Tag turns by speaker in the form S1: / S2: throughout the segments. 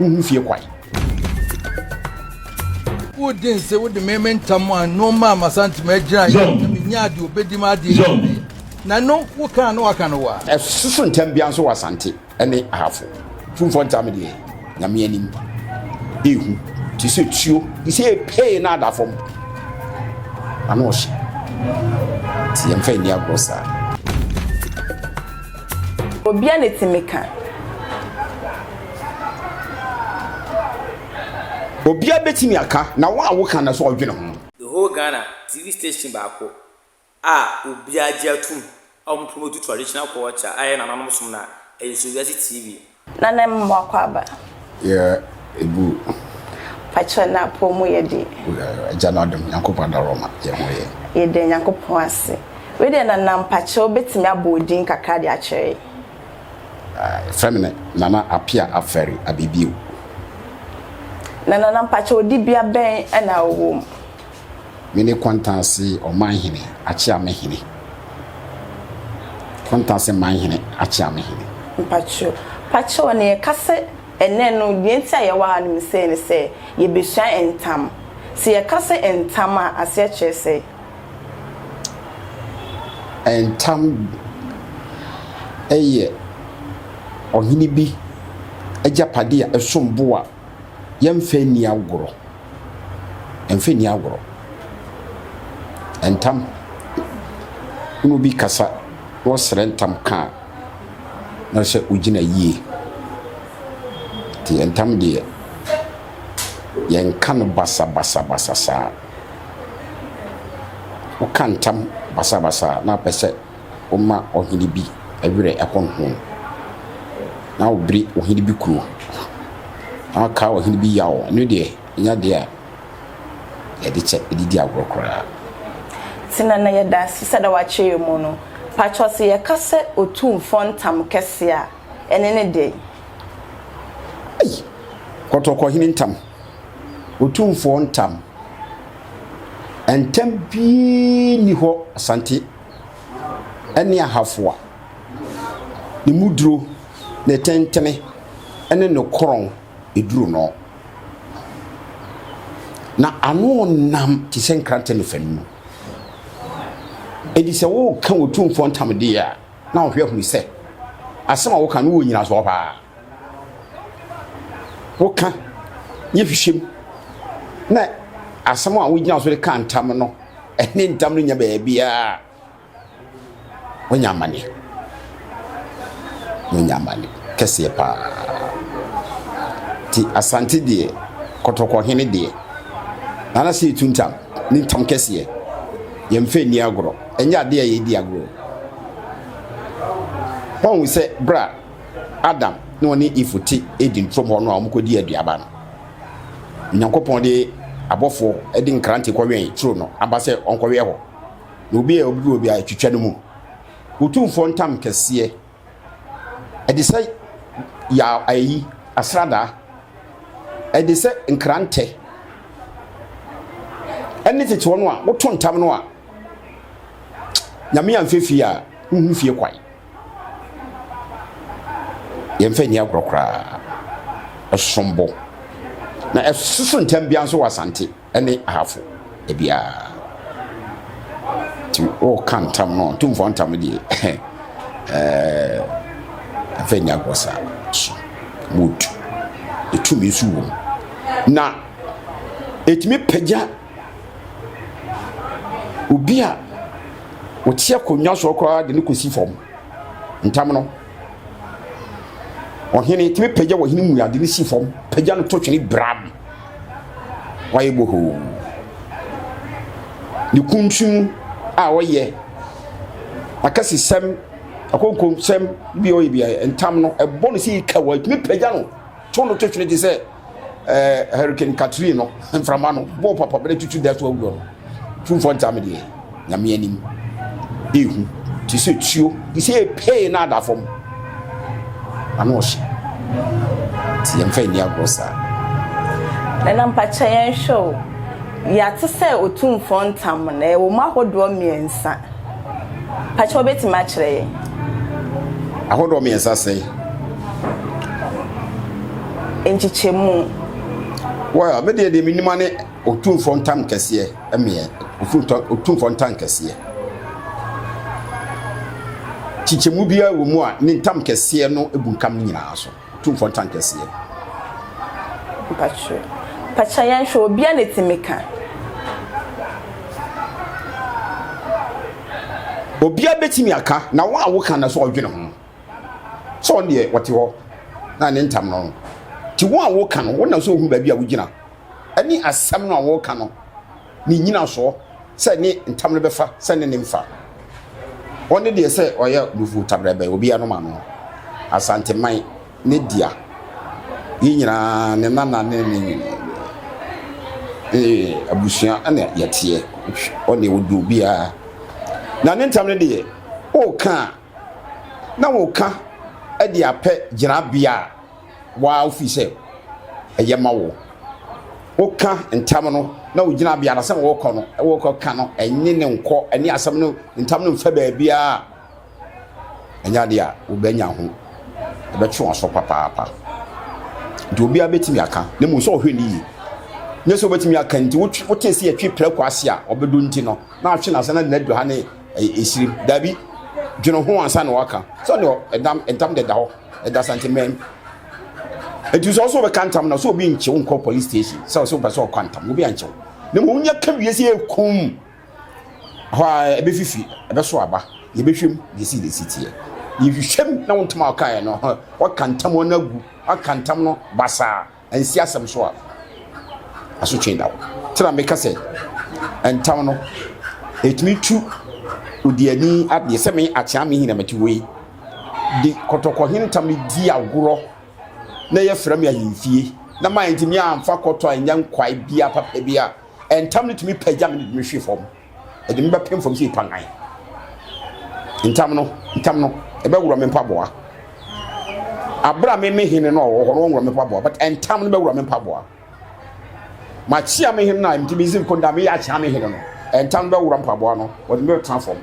S1: Wonhu fie kwan.
S2: Wode nse wode me me ntam a nnoɔma a masantem agyina yɛ na menya adeɛ obɛdi ma adeɛ yɛ na no woka na waka no wa. Ɛsoso ntam
S1: bia nso wɔ asante ne ahafo tumfoɔ ntam deɛ nyame anim ehu te sɛ tuo te sɛ epee na ada fam ano ɔhye te yɛmfa nni agorɔ saa
S3: obia ne timi ka
S1: Obiara bɛtumi aka na wo a woka no so ɔdwene ho. The whole Ghana,
S4: TV station baako a obiara gye atom a wɔn promote traditional culture a ɛyɛ nananom som no a, ɛyɛ Sowiase TV. Na na ɛma mo
S3: akwaaba. Yɛ
S1: ɛgu. Pakyɛ
S3: na apɔw mu yɛ de. Agya no adom
S1: Nyankopɔn adaworo ma yɛ ho yɛ. Yɛ da Nyankopɔn
S3: ase. Wei deɛ nana mpakyɛw bɛtumi abɔ odin kakra de akyerɛ yɛ.
S1: Eh, frɛ me ne Nana Apia Afɛre Abibio. Na
S3: Nana mpakyɛw dibea bɛn na wowɔ mu? Me
S1: ne Kɔntanse Ɔmanhene Akyeamehene. Kɔntanse Manhene Akyeamehene. Mpakyɛw, mpakyɛw
S3: na yɛka sɛ ɛnnɛ no, deɛ nti a yɛwɔ ha no, mesɛe ne sɛ yɛbɛsua ntam. Sɛ yɛka sɛ ntam a, aseɛ kyerɛ sɛ?
S1: Ntam yɛ ɔhene bi agyapade a ɛsom bo a yɛmfa nni agorɔ. Yɛmfa nni agorɔ. Ntam, wo ne obi rekasa na ɔsrɛ ntam ka a, na kyerɛ sɛ ɔgyina yie. Nti ntam deɛ, yɛnka no basabasabasa saa. woka ntam basabasa na wopɛ sɛ woma ɔhene bi werɛ honhom, na wobere ɔhene bi kunu, na wokae ɔhene bi yaw, ɛno deɛ, ɛnyɛ adeɛ a yɛde kyɛ, yɛde di agorɔ koraa. Ti
S3: na na yɛda ase sɛ da wakyɛ yɛn mu no. Pakyɛw sɛ yɛka sɛ Otumfoɔ ntam kɛse a, ɛne ne dɛn?
S1: Ei! Kɔtɔkɔhene ntam. Otumfoɔ ntam. Ntam biara nni hɔ Asante ne Ahafoa. Ne mu duro, ne tentene ne ne korɔn duru no. Na ano nam te sɛ nkrantɛ ne fanu. Enti sɛ woreka Otumfoɔ ntam deɛ a, na wohwɛ hunu sɛ asɛm a woreka no wɔ nnyinasoɔ paa. woka yɛ hwehwɛm na asɛm a wogyina so de ka ntam no ɛne ntam no nya baabiara wonya amane wonya amane kɛseɛ paa nti asante deɛ kɔtɔkɔhene deɛ nana sɛ yɛtu ntam ne ntam kɛseɛ yɛmfa nni agorɔ ɛnyɛ adeɛ a yɛdi agorɔ ɔhu sɛ berɛ a Adam na ɔne Eve te Eden turom hɔ no a wɔkɔdii aduaba no, Onyankopɔn de abɔfoɔ de nkrante kɔwɛn turo no aba sɛ ɔnkɔwɛn hɔ, na obi a ɔbɛduru obi a ɛtwitwa no mu. Otumfoɔ ntam kɛseɛ, ɛde sɛ ya ayi asradaa, ɛde sɛ nkrantɛ, ɛne tete wɔn a woto ntam no a Nyame amfɛ fie a wohu fie kwan. Yɛmfa nni agorɔ koraa. Ɛsom bo. Na ɛso so ntɛm biara nso wɔ Asante ne Ahafo biara. Nti woka ntam no, ntumfoɔ ntam deɛ ɛmfa nni agorɔ saa so. Mood. Ɛtumi nso wɔ mu. Na ɛtumi pagya obi a ɔte akonnwa soɔ koraa de no kɔsi fam ntam no ɔhene tumi pagya ɔhene mu ade no si fam pagya no to twene bram wayɛ bohoo ne kuntun a ɔyɛ akasisɛm akonkomsɛm bi ɔyɛ bi ntam no ɛbɔ no sɛ yika wɔ ɛtumi pagya no to no to twene te sɛ ɛɛ eh, hurricane katrine no mframa no bɔɔ papa bɛrɛ tutu da so awuo no tumfoɔ ntam deɛ nyame anim ehu te sɛ tuo te sɛ epee na ada fam ano ɔhyɛ te yɛn fɛn ni agorɔ saa.
S3: ɛna mpakyɛ yɛn hwɛ o yɛate sɛ otumfoɔ ntam no ɛwɔ mu ahodoɔ mmiɛnsa mpakyɛ wɔbɛtumi akyerɛ yɛn.
S1: ahodoɔ mmiɛnsa sɛn.
S3: nkyekyɛmu. Well,
S1: me deɛ deɛ me nima ne otumfoɔ ntam kɛseɛ ɛmeɛ otumfoɔ ntam kɛseɛ kyekyɛmu biara wɔ mu a ne ntam kɛseɛ no ebu nkam ne nyinaa so otumfoɔ ntam kɛseɛ. mpatwo
S3: pakyɛ yɛn hwɛ obi a n'etimi ka.
S1: obi a betumi aka na wɔn a wɔka na so ɔdwene ho. sɛ ɔno deɛ ɔte hɔ na ne ntam no nti wɔn a wɔka no wɔnam sɛ ohun baabi a wogyina ɛne asɛm no a wɔka no ne nyina soɔ sɛ ne ntam no bɛfa sɛ ne ne mfa ɔne deɛ sɛ ɔyɛ nufu tabrɛbɛ obi anom ano asanteman ne dea yɛ nyinaa ne nana ne ne ee abusua ɛna yɛteɛ ɔne ɔdu obiara na ne ntam no deɛ ɔka a na woka de apɛ gyinabea a waa wofi sɛ ɛyɛ ma wo. Woka ntam no na wo gyinabea no sɛ wokɔ no, wokɔ ka no, ɛnye ne nkɔ, ɛne asɛm no ntam no mfa baabiara. Ɛnyɛ adeɛ a wobɛnya ho, ɛbɛtwe wɔn so papaapa. Nti obiara bɛtumi aka, na mmom sɛ ɔhwɛ ne yie. Nyɛ sɛ wobɛtumi aka nti wotwe wote sɛ yɛtwe prɛko ase a ɔbɛdɔ nti no na atwe n'ase na n'adu ha ne ɛyɛ esirim dabi dwene ho ansa na waka sɛ ɔne ɛdam ntam deda hɔ ɛda santemɛn nti sɛ ɔsɛ ɔbɛka ntam na sɛ obi nkyew nkɔ police station sɛ ɔsɛ ɔbɛ sɛ ɔkɔ ntam obi ankyew na mmom nyɛ ka wie sɛ ekum hɔ a ɛbɛfifi ɛbɛso aba yɛbɛhwɛm deɛ si deɛ si teɛ yɛhwehwɛm na wo ntam a ɔkaeɛ no ɔka ntam ɔno agu ɔka ntam no basaa Ansi asɛm so a, asotwe da hɔ. Nti na meka sɛ, ntam no, ɛtumi tu odiani adeɛ sɛ me akyea me hina mate wei de kɔtɔkɔhene ntam no di agorɔ na yɛfrɛ me ahemfie na ma ɛntumi amfa kɔtɔ a ɛnyɛ nkwae bia papa bi a ɛntam no tumi pagya me ne tumi hwe fam ɛde me bɛpem fam sɛ nipa nan ntam no ntam no ɛbɛwura me mpaboa abira me me hene no a ɔwɔ hɔ no ɔnwura me mpaboa but ntam no bɛwura me mpaboa makyia me hene no a nti me zim konda me yɛ akyia me hene no ntam no bɛwura mpaboa no wɔde me bɛtena fam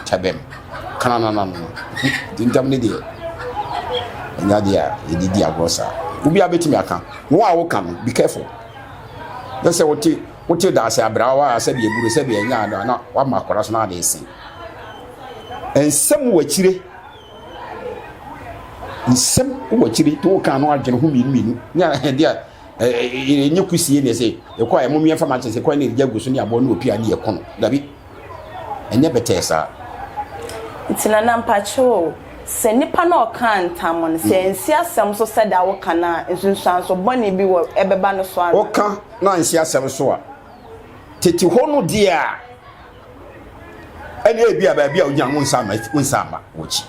S1: tɛbɛm kananana no nti ntam no deɛ ɛnyɛ adeɛ a yɛde di agorɔ saa obi a bɛtumi aka wɔn a wɔka no be careful na sɛ wɔte wote daase abraawa a sɛdeɛ aburo sɛdeɛ ɛnyɛ ano a na wama akwadaa so na ade ese nsɛm wɔ akyire nsɛm wɔ akyire to woka ano adwene ho mmienu mmienu ne ɛde a ɛnyɛ kusie ne ɛsɛ ɛkɔ a ɛmo mmiɛnfa ma kyɛ sɛ kwan ne ɛgya gu so ne aboɔ ne opia ne yɛko no dabi Ɛnyɛ bɛtɛɛ saa.
S3: Nti na na mpakyɛw o, sɛ nipa no a ɔkaa ntam no, sɛ ansi asɛm so sɛda woka no a, nsunsuanso bɔne bi wɔ ɛbɛba no so ana? Woka na ansi asɛm so
S1: a, tete hɔ no deɛ a, ɛne ebi a baabi a wogyina no wonsa ama, wonsa ama w'akyi.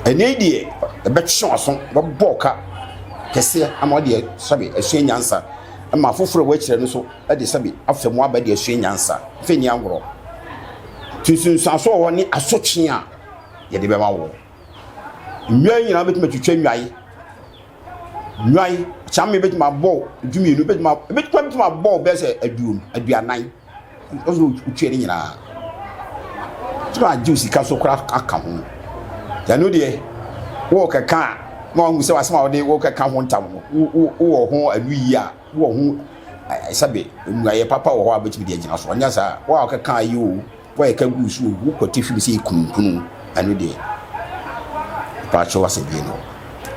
S1: Ɛnɛ yi deɛ, ɛbɛtwe w'aso, bɛbɔ ka kɛseɛ ama wodeɛ sɛbe asua nyansa ma afoforɔ a wɔakyerɛ no so. de sɛbe afa mu aba de asua nyansa. Afei nni agorɔ. Nti nsunsuanso wɔ hɔ ne asotwe a yɛde bɛma wo. Nnwae nyinaa bɛtumi atwitwa nnwae. Nnwae, kyame bɛtumi abɔ dumienu, bɛtumi bɛtumi bɛtumi abɔ bɛyɛ sɛ aduonu, aduanan. Ɔsɛ wotwa ne nyinaa. Tumi agye sika so koraa aka ho. Yɛno deɛ, wɔrekɛka a, na wɔn sɛ asɛm a wɔde wɔrekɛka ho ntam no, wɔ ho anuyie a wɔ ho sɛbe mmuaeɛ papa wɔ hɔ a wobɛtumi de agyina so ɔnyɛ saa wo a wokɛka ayɛ o woayɛ ka guu so o wokwati hwem sɛ yɛkununkunu ɛno deɛ paakyɛ wasɛ bie no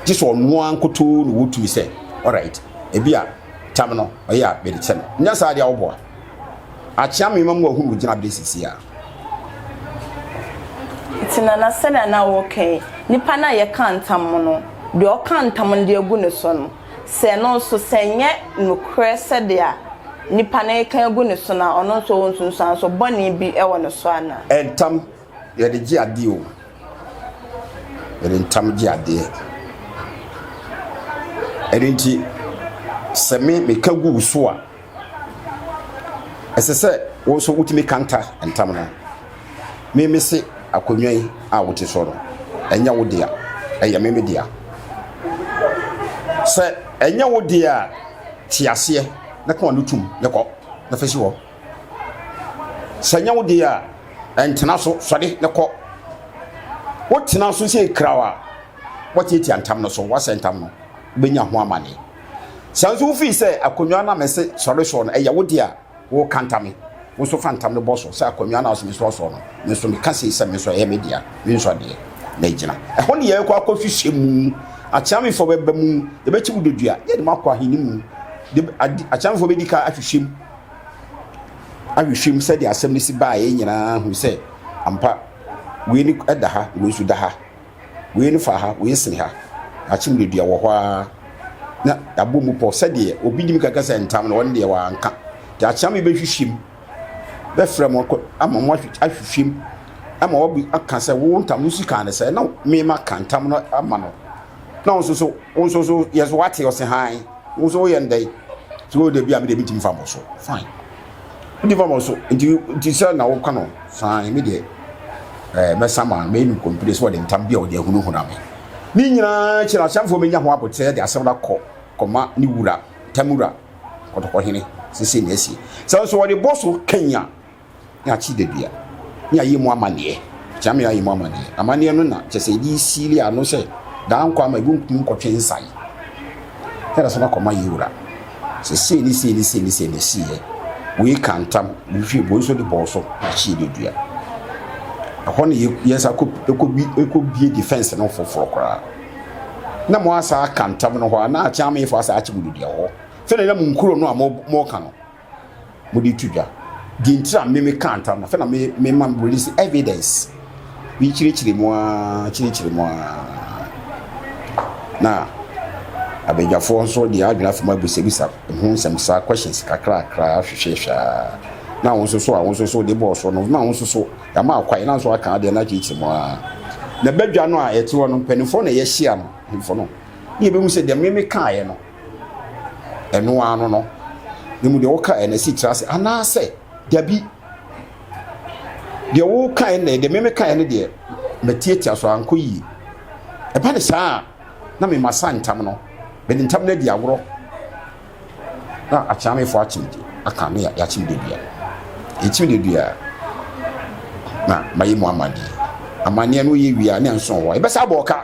S1: gye sɛ ɔno a nkotoo na wɔtumi sɛ alright ebi a tam no ɔyɛ a bɛde kyɛ no nyɛ saa deɛ woboa akyea mema mu ahunu wogyina berɛ sisi a
S3: nti na na sɛdeɛ na wɔkɛn nipa no a yɛka ntam no deɛ ɔka ntam no deɛ agu ne so no sɛ ɛno nso, sɛ ɛnyɛ nokorɛ sɛdeɛ nipa no reka agu ne so no a, ɔno nso ɔwɔ nsunsuansoɔ bɔne bi wɔ ne so anaa? Ntam,
S1: yɛde gye adeɛ o. Yɛde ntam gye adeɛ. Ɛno nti, sɛ me meka gu wo so a, ɛsɛ sɛ wo nso wotumi kanta ntam no meme se akonnwa yi a wote so no ɛnyɛ wo dea ɛyɛ meme dea sɛ ɛnyɛ wo dea a te aseɛ na kɔn no tum ne kɔ na fɛsi hɔ sɛ ɛnyɛ wo dea a ɛntena so sɔde ne kɔ wotena so sɛ kraw a wɔtiatia ntam no so wɔasɛ ntam no wobɛnya ho amane Sɛ nso wofii sɛ akonnwa no a mese sɔre soɔ no, ɛyɛ wo deɛ a, woka ntame. Wo nso fa ntame bɔ so sɛ akonnwa no a ɔse mesɔre soɔ no, me nso meka sei sɛ me nso ɛyɛ me dea, mensɔ deɛ. Na agyina. Ɛhɔ ne yɛbɛkɔ akɔhwehwɛ mu. Akyeamefoɔ bɛba mu, yɛbɛkye mu dodua, ne yɛde mo akɔ ahene mu. De, adi, akyeamefoɔ bɛdi ka ahwehwɛ mu. Ahwehwɛ mu sɛdeɛ asɛm no si baeɛ nyinaa hu sɛ ampa wei ne ɛda ha, wei nso da ha. wei no fa ha, wei sene ha. Akyem no dua wɔ hɔ ara na yɛabɔ mu pɔ sɛdeɛ obi nim kaka sɛ ntam no ɔno deɛ wanka. Nti akyem yɛbɛhwehwɛ mu bɛfrɛ mo ama mo ahwehwɛ mu ama wabu aka sɛ wo ntam no si kan no sɛ na mema ka ntam no ama no na nso so wo nso so yɛ so wate ɔse han wo nso woyɛ ndɛn sɛ wo da bi a mede metumi fa mo so fine wodi fam so nti nti sɛ na woka no fine me deɛ ɛɛ eh, mɛsa ma mɛyi no kɔmpire sɛ ɔde ntam bi a ɔde ahunahuna me ne nyinaa kyerɛ ahyɛnfoɔ menya ho abotrɛ de asɛm no akɔ kɔma ne wura tamura kɔtɔkɔhene sese na asi sɛ nso ɔde bɔ so kanya ne akyi dadua ne ayɛ mu amanneɛ kyɛ me ayɛ mu amanneɛ amanneɛ no na kyɛ sɛ ɛde siili ano sɛ daa nkɔ ama ɛbɛntumi nkɔtwe nsae ɛda so no akɔma yi wura sɛ sei ne sei ne sei ne sei na ɛsiiɛ. Wei ka ntam, wei hwɛ, wei nso de bɔɔ so na akyee no dua. Ɛhɔ na yɛsa kɔbie defense no foforɔ koraa. Na mo asa aka ntam no hɔ a, na akyɛn amefoɔ asa akye mo dua hɔ. Sɛdeɛ na mo nkuro no a moka no. mo de to dwa deɛ nti na me me ka ntam na fɛ na me me ma release evidence bi kyerɛkyerɛ mu aa kyerɛkyerɛ mu aa na abadwafoɔ nso deɛ adwene afam abisabisa ho nsɛm saa questions kakrakra ahwehwɛhwɛ aa na wɔn nso so a wɔn nso so de bɔɔl so no na wɔn nso so yɛama akwae na nso aka adeɛ na akyerɛkyerɛ mu aa na badwa no a yɛte hɔ no mpanimfoɔ na yɛhyia no mpanimfoɔ no ne yɛbɛhu sɛ deɛ me me kaeɛ no ɛno ara no no na mu deɛ woka ɛna si tra ase anaasɛ dabi deɛ woka ɛna deɛ meme ka ɛne deɛ matiatia so ankɔ yie ɛba ne saa a na mema sa ntam no mede ntam no adi agorɔ na akyeamefoɔ akyem de aka ne yɛakyem de dua ɛkyim de dua na mayɛ mu amadeɛ amanneɛ no yɛ wie a ne nso hɔ ɛbɛsa abɔ ɔka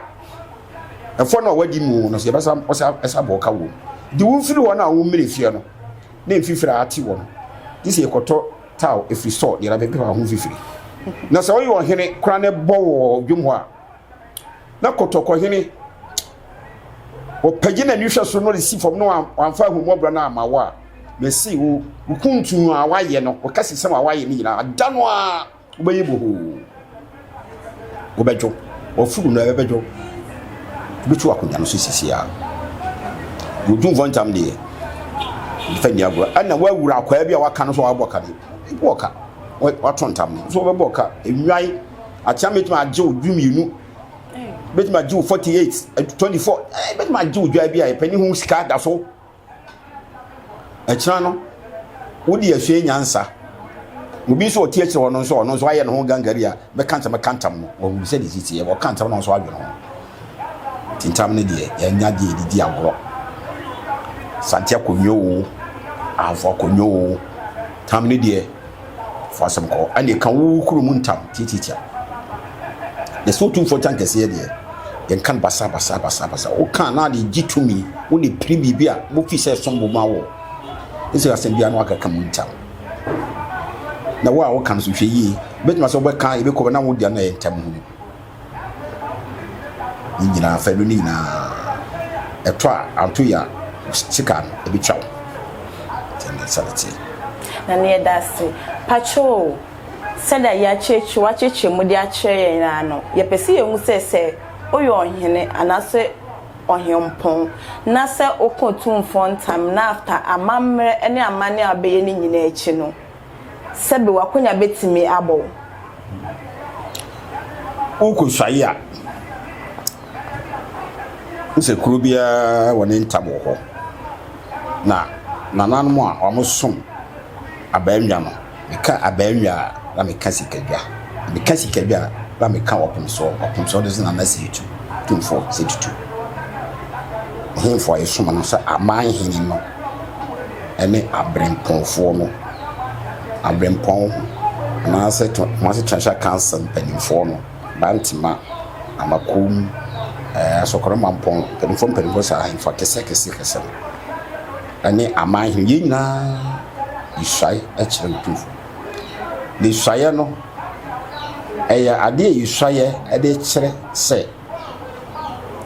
S1: Ɛfɔ no a wadi mu no sɛ yɛbɛsa ɔsɛ ɛsa bɔ ɔka wom. Di wo mfiri wɔn a wo mmiri fie no ne mfifiri a ate wɔn. Gye sɛ yɛkɔtɔ taw efiri sɔ deɛ bɛbɛ bɛfa ho mfifiri. Na sɛ ɔyɛ ɔhene kora ne bɔ wɔ dwom hɔ a na kɔtɔkɔ hene ɔpagye na nihwɛ so no de si fam no wamfa ahummɔborɔ no ama wo a mese wo wo kuntun a wayɛ no wo kasesɛm a wayɛ no nyinaa da no a wobɛyɛ bohoo wobɛdwo ɔfuru no ɛbɛdwo wobɛtu akonnwa no so sisi a wodwumfoɔ ntam deɛ mfa nni agorɔ ɛna woawura akwaa bi a waka no so wabɔ ka no ɛbɔ ɔka wato ntam no so wobɛbɔ ɔka nnwan akyea mɛtumi agye wo du mmienu bɛtumi agye wo 48 24 bɛtumi agye wo dwa bi a ɛpɛ ne ho sika da so ɛkyena no wode asua nyansa obi nso ɔte akyire hɔ no nso ɔno nso ayɛ ne ho gangari a bɛka ntɛm bɛka ntɛm no wɔhu sɛ ne sisi yɛ wɔka ntɛm no nso adwene ho tintam no deɛ yɛnya deɛ ɛdidi agorɔ sante akonnwa o ahafo akonnwa o tam no deɛ Fa asɛm kɔ hɔ. Ɛnneɛ ka wo kuro mu ntam tiatiatia. Yɛsɛ Otumfoɔ Gyan Kɛseɛ deɛ, yɛnka no basabasa basabasa. Woka a, na ade regye tumi. Wode pere biribi a, wofii sɛ ɛsom bo ma wo. Ɛsɛ sɛ asɛm biara no akaka mu ntam. Na wo a woka no nso, hwɛ yie. Wobɛtumi asɛ wobɛka a, ɛbɛkɔ bɛ na wo deɛ no na ɛyɛ ntam hunu. ne nyinaa fɛ no ne nyinaa ɛtɔ a anto yɛ a sika no ɛbɛtwa wo ɛne sɛ ne teɛ na ne yɛda
S3: ase patwoo sɛdeɛ yɛakyerɛkyerɛ wakyerɛkyerɛ mu de akyerɛ yɛn nyinaa no yɛpɛ sɛ yɛhu sɛ sɛ woyɛ ɔhene anaasɛ ɔhempɔn na sɛ wokɔ tumfoɔ ntam na after amammerɛ ne amanne a wobɛyɛ no nyinaa akyi no Sɛbe w'akonya betumi abɔ
S1: wo. Worekosuae a, hu sɛ kuro biara wɔ ne ntam wɔ hɔ, na nananom a wɔsom abaannwa no, meka abaannwa a, na meka sikadwa. Meka sikadwa a, na meka ɔpemsoɔ. Ɔpemsoɔ no nso na na Seetu Tumfoɔ, Seetu Tu, Ɔhemfo a yɛsom no sɛ Aman Hene no. ne abirɛmpɔnfoɔ no, abirɛmpɔn anaasɛ Kumasi Transha Council mpanimfoɔ no, Bantema, Amakom, ɛɛ Asɔkora Mampɔn mpanimfoɔ mpanimfoɔ saa ahemfo akɛseakɛseakɛse no ne aman hene yɛn nyinaa yɛsuae kyerɛ Otumfoɔ. Na suaeɛ no, ɛyɛ adeɛ a yɛsuaeɛ de kyerɛ sɛ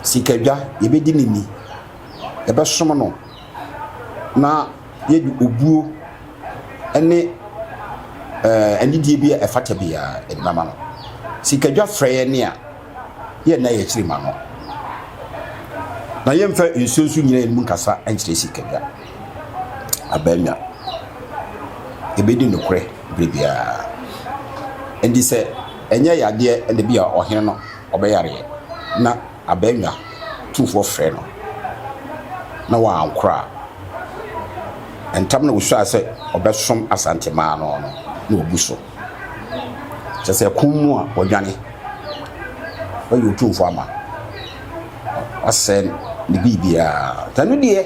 S1: sikadwa yɛbɛdi no ni. yɛbɛsom no na yɛde obuo ne anidie bi a ɛfata biara yɛde bɛma no. Sikadwa frɛ yɛn a, yɛnna yɛn akyiri ma no, na yɛmfa nsuo nso nyina yɛn mu nkasa nkyerɛ sikadwa. Abaamua, yɛbɛdi nokorɛ berɛ biara. Ɛnti sɛ ɛnyɛ yadeɛ na bi a ɔhene no ɔbɛyareɛ na. abannwa tumfoɔ frɛɛ no na wankora a, ntɛm na ɔsuaa sɛ ɔbɛsom Asantemaa no no na wabu so. Kyerɛ sɛ ɛko mu a wadwane, wayi Otumfoɔ ama, wasɛe ne biribiara. Nti ɛno deɛ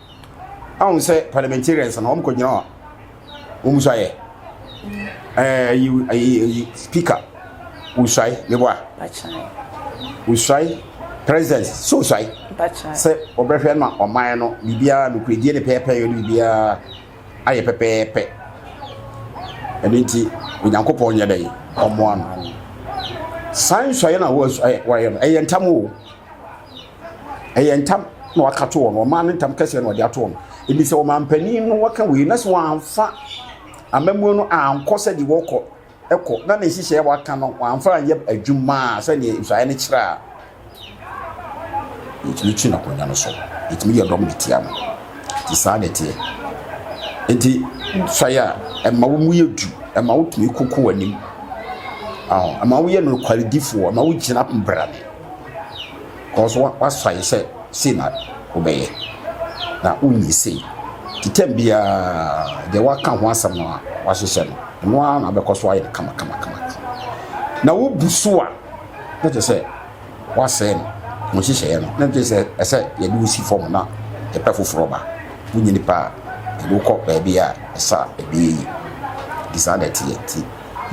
S1: ahu sɛ parliamentarians no wɔn kɔgyina hɔ wɔn mu so ayɛ ɛɛ yi ɛyi yi speaker wosuae meboa wosuae president so wosuae sɛ ɔbɛhwɛ ma ɔman no biribiara nokoredie ne pɛɛpɛɛ yɛ no biribiara ayɛ pɛpɛɛpɛ ɛno nti onyankopɔn nyɛ dɛ ɔmmoa no saa nsuaeɛ no a wɔyɛ no ɛyɛ ntam o ɛyɛ ntam na waka to wɔn ɔmaa ne ntam kɛseɛ na ɔde ato wɔn ebi sɛ ɔmampanin no waka wei na sɛ wɔamfa amamuo no ankɔ sɛ deɛ wɔkɔ ɛkɔ na ne nhyehyɛɛ waka no wɔamfa anyɛ adwuma a sɛdeɛ nsuaeɛ no kyerɛ a yɛtumi kyi n'akonnwa no so yɛtumi yɛ dɔm de tia no nti saa na ɛteɛ nti sɔe a ɛma wo mu yɛ du ɛma wotumi koko w'anim ɛma woyɛ nokwaridifoɔ ɛma wogyina mbrane Kɔ so w'asuaeɛ sɛ sei na wobɛyɛ na wonyɛ sei. Titam biara deɛ w'aka ho asɛm no a w'ahyehyɛ no, ɛno ara na wobɛkɔ so ayɛ no kama kama kama. Na wo bu so a, na kyerɛ sɛ w'asɛe no, wo nhyehyɛeɛ no, na kyerɛ sɛ ɛsɛ yɛde wo si fam na yɛpɛ foforɔ ba. Wonyɛ nipa a, yɛde wokɔ baabi a ɛsɛ a ɛbɛyɛ yi. Nti saa na ɛteɛ. Nti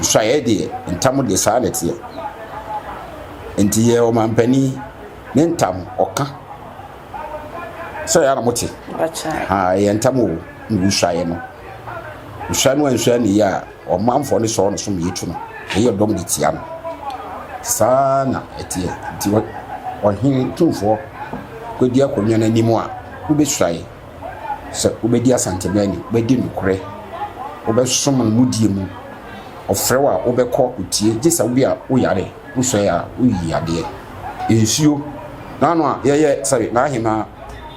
S1: nsuaeɛ deɛ, ntam deɛ saa na ɛteɛ. Nti yɛ ɔmanpanin ne ntam ɔka sɛ yɛ na mo te ɛyɛ ntam o na wosuaeɛ no wosua no ansua ne yie a ɔmanfoɔ ne sɔɔ no so mmiɛ tu no ɛyɛ dɔm de tia no saa na ɛteɛ nti ɔhene tumfoɔ kɔdi akonnwa no anim a wobɛsuae sɛ wobɛdi asantema ani wobɛdi nokorɛ wobɛsom no mu die mu ɔfrɛ wo a wobɛkɔ wotie gye sɛ wobi a woyare Wo sɔe a wo yi adeɛ. Nsuo n'ano a yɛ yɛ sɛbe n'ahemaa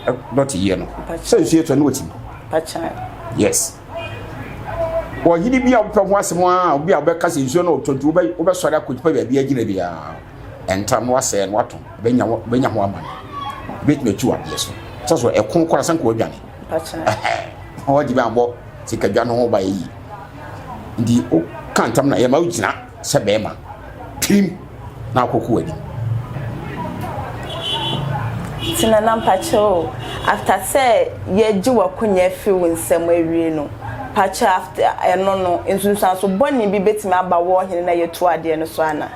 S1: ɛ dɔte yɛ no. Sɛ nsuo yɛ tɔ ne wɔtim. Yes wɔ hene bi a wopɛ ho asɛm a obi a wobɛka sɛ nsuo no ɔtɔ nti wobɛ wobɛ sɔre akɔtipa baabi agyina bi a ɛntam no wasɛɛ no wato bɛnya bɛnya ho amane bɛtumi atu adeɛ so sɛ so ɛko kora sɛ nka wadwane Ɔhɔ de bi abɔ sikadwa no ho ba yi. Nti o ka ntam na yɛma wogyina sɛ bɛrima. Tirim na akɔko w'anim. Nti
S3: na na mpakyɛw after sɛ yɛgye w'akonya fi wo nsam awie no, mpakyɛw after ɛno no nsunsuanso bɔne bi bɛtumi aba wɔ ɔhene na yɛtu adeɛ no so ana?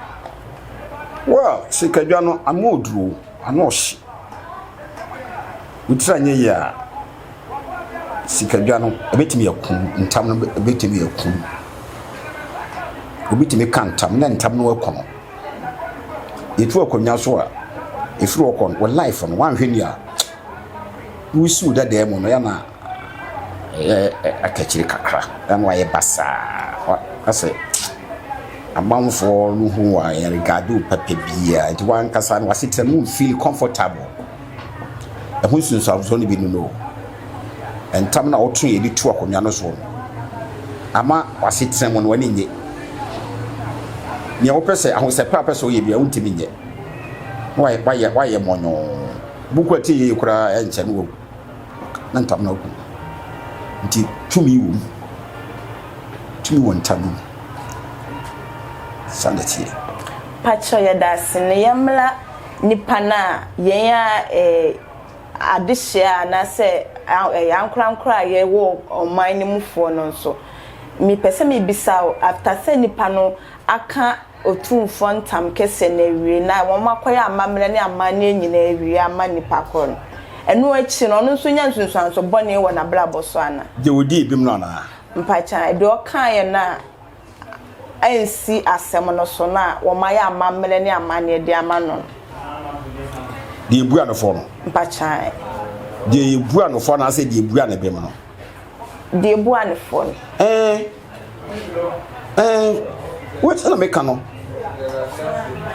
S1: Well, sikadwa no ano ɔduru o, ano ɔhye. Wo tiri anyɛ yie a, sikadwa no ɛbɛtumi aku wo, ntam no ɛbɛtumi aku wo. Obi tumi ka ntam na ntam no aku no. Yɛtu akonnwa so a, ɛfiri hɔ kɔ no, wɔ life no woanhwɛ ni a, wosi wo dadaa mu no yɛ na akakyire kakra na wayɛ basaa asɛ amanfoɔ no ho a yɛregaade wo papa biara nti wankasa no wasetena no wonfeel comfortable Ɛho nsunsuansoɔ no bi no no, ntam na ɔto yɛ de tu akonnwa no soɔ no ama w'asetena mu no w'ani nye. Nea wopɛ sɛ ahosɛpɛ a wopɛ sɛ woyɛ biara wontumi nyɛ. Na wayɛ wayɛ wayɛ mɔnyɔɔ. Buku a tie yie koraa ɛnkyɛ no wɔ na ntam na ɔko. Nti tumi wɔ mu. Tumi wɔ ntam mu. Sane teɛ. Pacho
S3: yɛda ase ne yɛmmla nnipa no a yɛn a ɛɛ adehyeɛ anaasɛ ɛɛ ankorankoro a yɛwɔ ɔman no mufoɔ no nso. Mepɛ sɛ mebisa wo, after sɛ nnipa no aka Otumfoɔ ntam kɛseɛ no awie na wɔakɔyɛ amammerɛ ne amanneɛ nyinaa awie ama nnipa korɔ no, ɛno akyi no, ɔno nso nya nsunsuanso bɔne wɔ n'abrabɔ so anaa? Deɛ ɔdii bem no anaa?
S1: Mpakyɛ, deɛ
S3: ɔkaeɛ no a. ansi asɛm no so na wɔayɛ amammerɛ ne amanneɛ de ama no no.
S1: Deɛ ebu anofɔ no. Mpakyae.
S3: Deɛ
S1: ebu anofɔ anaasɛ deɛ ebu anebem no. Deɛ
S3: ebu anofɔ no. Ɛɛ
S1: ɛɛ wɔn na meka no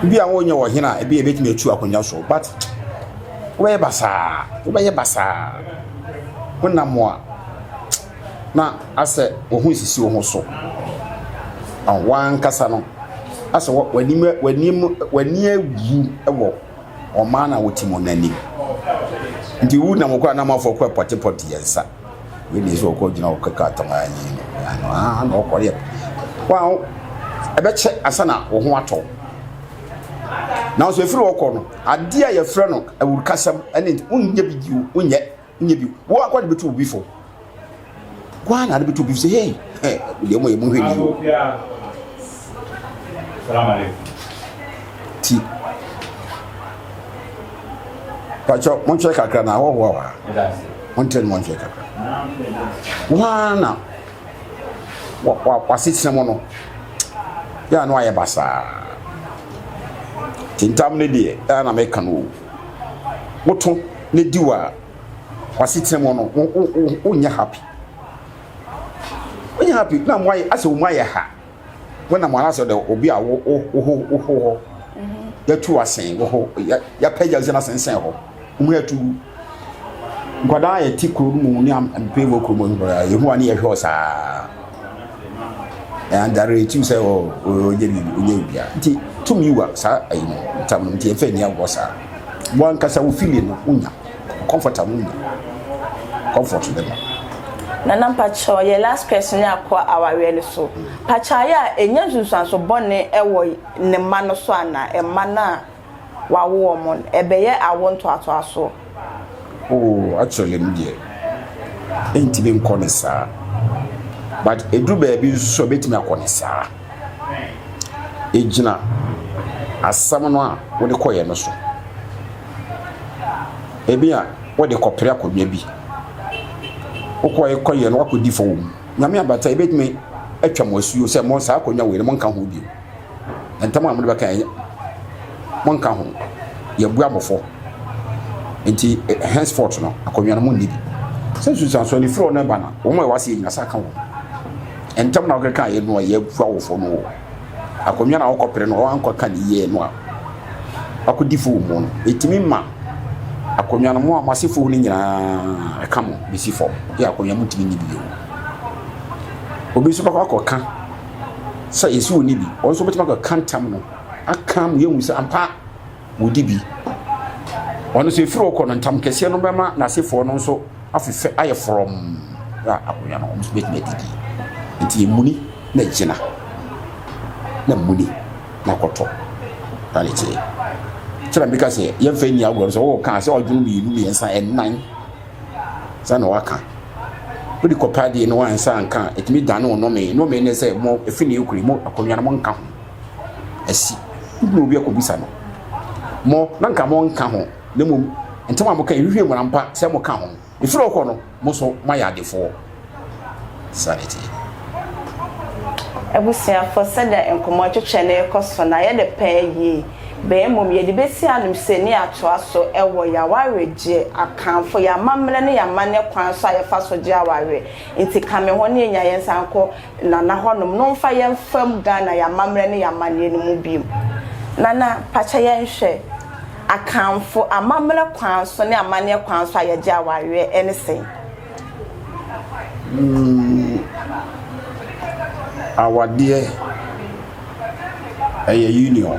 S1: bi a wɔnyɛ wɔ hene a ebi ebetumi atu akonnwa so but wɔbɛyɛ basaa wɔbɛyɛ basaa wɔnam a. na asɛ wo ho nsisi wo ho so. Ɔn, w'ankasa no, asɛ wɔ, w'anim, w'anim, w'ani awu wɔ ɔman no a wote mu no anim. Nti wo nam kɔ a na amanfoɔ kɔ pɔtepɔte yɛn nsa. Wei ne sɛ ɔkɔ gyina ɔkɔ kaa tɔn anyi no. Ano aa na ɔkɔ yɛ. Wɔn ɛbɛkyɛ ansa na wo ho atɔ. Nanso efiri ɔkɔ no, adeɛ a yɛfrɛ no awurukasɛm ɛne nti wonyɛ bi bio, wonyɛ. Nyɛ bi. Wo akoa de bɛtu obi fo. Woa na ade bɛtu obi fo sɛ hei deɛ ɔmɔ yɛ mo hwɛ ni o.
S5: Ti.
S1: Pakyɛ monkyerɛ kakra na ahɔhoɔ wa. Monkyerɛ no monkyerɛ kakra. Woa na wasetena mu no yɛ ano ayɛ basaa. Tintam ne deɛ ɛna meka no o. woto ne di wɔ w'asetena mu no wo wo wo wonyɛ happy wonyɛ happy na mo ayɛ asɛ wɔn ayɛ ha wɔnam wɔn asɛ dɛ obi a wo wo wo ho wo ho hɔ yɛtu asen wo ho yɛ yɛpɛgya sɛ n'asensɛn hɔ wɔn yɛtu nkwadaa a yɛte kuro no mu ne mpɛ wɔ kurom nkwadaa yɛhu a ne yɛhwɛ wɔ saa. ɛandare ɛtim sɛ ɔnyɛ biribi ɔnyɛ biribiara nti tumi wa saa ayi no ntam no nti ɛmfa nni agorɔ saa wɔn ankasa wo fili no wonya comfort a wonya comfort no ma nana
S3: mpakyɛw yɛ last question ne akɔ awareɛ no so pakyɛw a ɛnya nsunsuanso bɔne ɛwɔ ne mma no so ana ɛmma no a wawo wɔn no, ɛbɛyɛ awo ntoatoasoɔ. Oh
S1: actually me deɛ ɛntumi nkɔ ne saa but ɛduru baabi nso so ɛbɛtumi akɔ ne saa ɛgyina asɛm no a wode kɔyɛ no so ebi a wode kɔpere akonnwa bi wokɔyɛ kɔyɛ no wakɔdi fɔ wɔ mu nyame abata ɛbɛtumi atwa mo asuo sɛ mo saa akonnwa wei no monka ho bio ntam a mode bɛka ɛnyɛ monka ho yɛbua mofo nti eh, henceforth no akonnwa no mu nni bi sɛ susan so anifiri ɔno ɛba na wɔn a ɛwɔ ase yɛ nyina sa ka wɔn ntam na wɔkeka yɛ no a yɛbua wofo no wɔ akonnwa na wɔkɔpere no wɔankɔ ka ne yie no a wakɔdi fo mu no ɛtumi ma akonnwa no mo a moase fo no nyinaa ɛka mo bɛsi fam yɛ akonnwa mu tumi nni bi bio obi nso bɛkɔ akɔka sɛ yɛsi wɔn ni bi wɔn nso bɛtumi akɔka ntam no aka mu yɛhu sɛ ampa wɔdi bi wɔn nso efiri hɔ kɔ no ntam kɛseɛ no bɛma n'asefoɔ no nso afefɛ ayɛ forɔm na akonnwa no wɔn nso bɛtumi adi bi nti emuni na gyina na muni na kɔtɔ na ne kyerɛ kyerɛ mbika sɛ yɛmfa nni agorɔ sɛ wɔwɔ kaa sɛ ɔdwono mmienu mmiɛnsa ɛnan saa na waka wode kɔpa adeɛ no wansa anka a ɛtumi dane wo nome nome ne sɛ mo ɛfi ne ɛkuri mo akonnwa no monka ho asi wobɛtumi obi akɔbisa no mo na nka monka ho na mmom ntɛm a moka ɛhwehwɛ mmara mpa sɛ moka ho ɛfiri ɔkɔ no mo so moayɛ adefoɔ
S3: Abusuafo, sɛdeɛ nkɔmmɔ ntwetwɛ no rekɔ so no, ayɛ no pɛ yie, bɛn mmom yɛde bɛsi anomsɛni atoa so wɔ yɛn awaregyeɛ akanfo, yɛn amammerɛ ne yɛn amanneɛ kwan so a yɛfa so gye awareɛ. Nti ka me ho ne yɛnya yɛn nsa nkɔ Nana hɔnom na ɔmfa yɛn mfam Ghana yɛn amammerɛ ne yɛn amanneɛ no mu bio. Nana, pa kyɛ yɛn nhwɛ, akanfo amammerɛ kwan so ne amanneɛ kwan so a yɛgye awareɛ ne sɛn? Wuu
S1: awadeɛ ɛyɛ union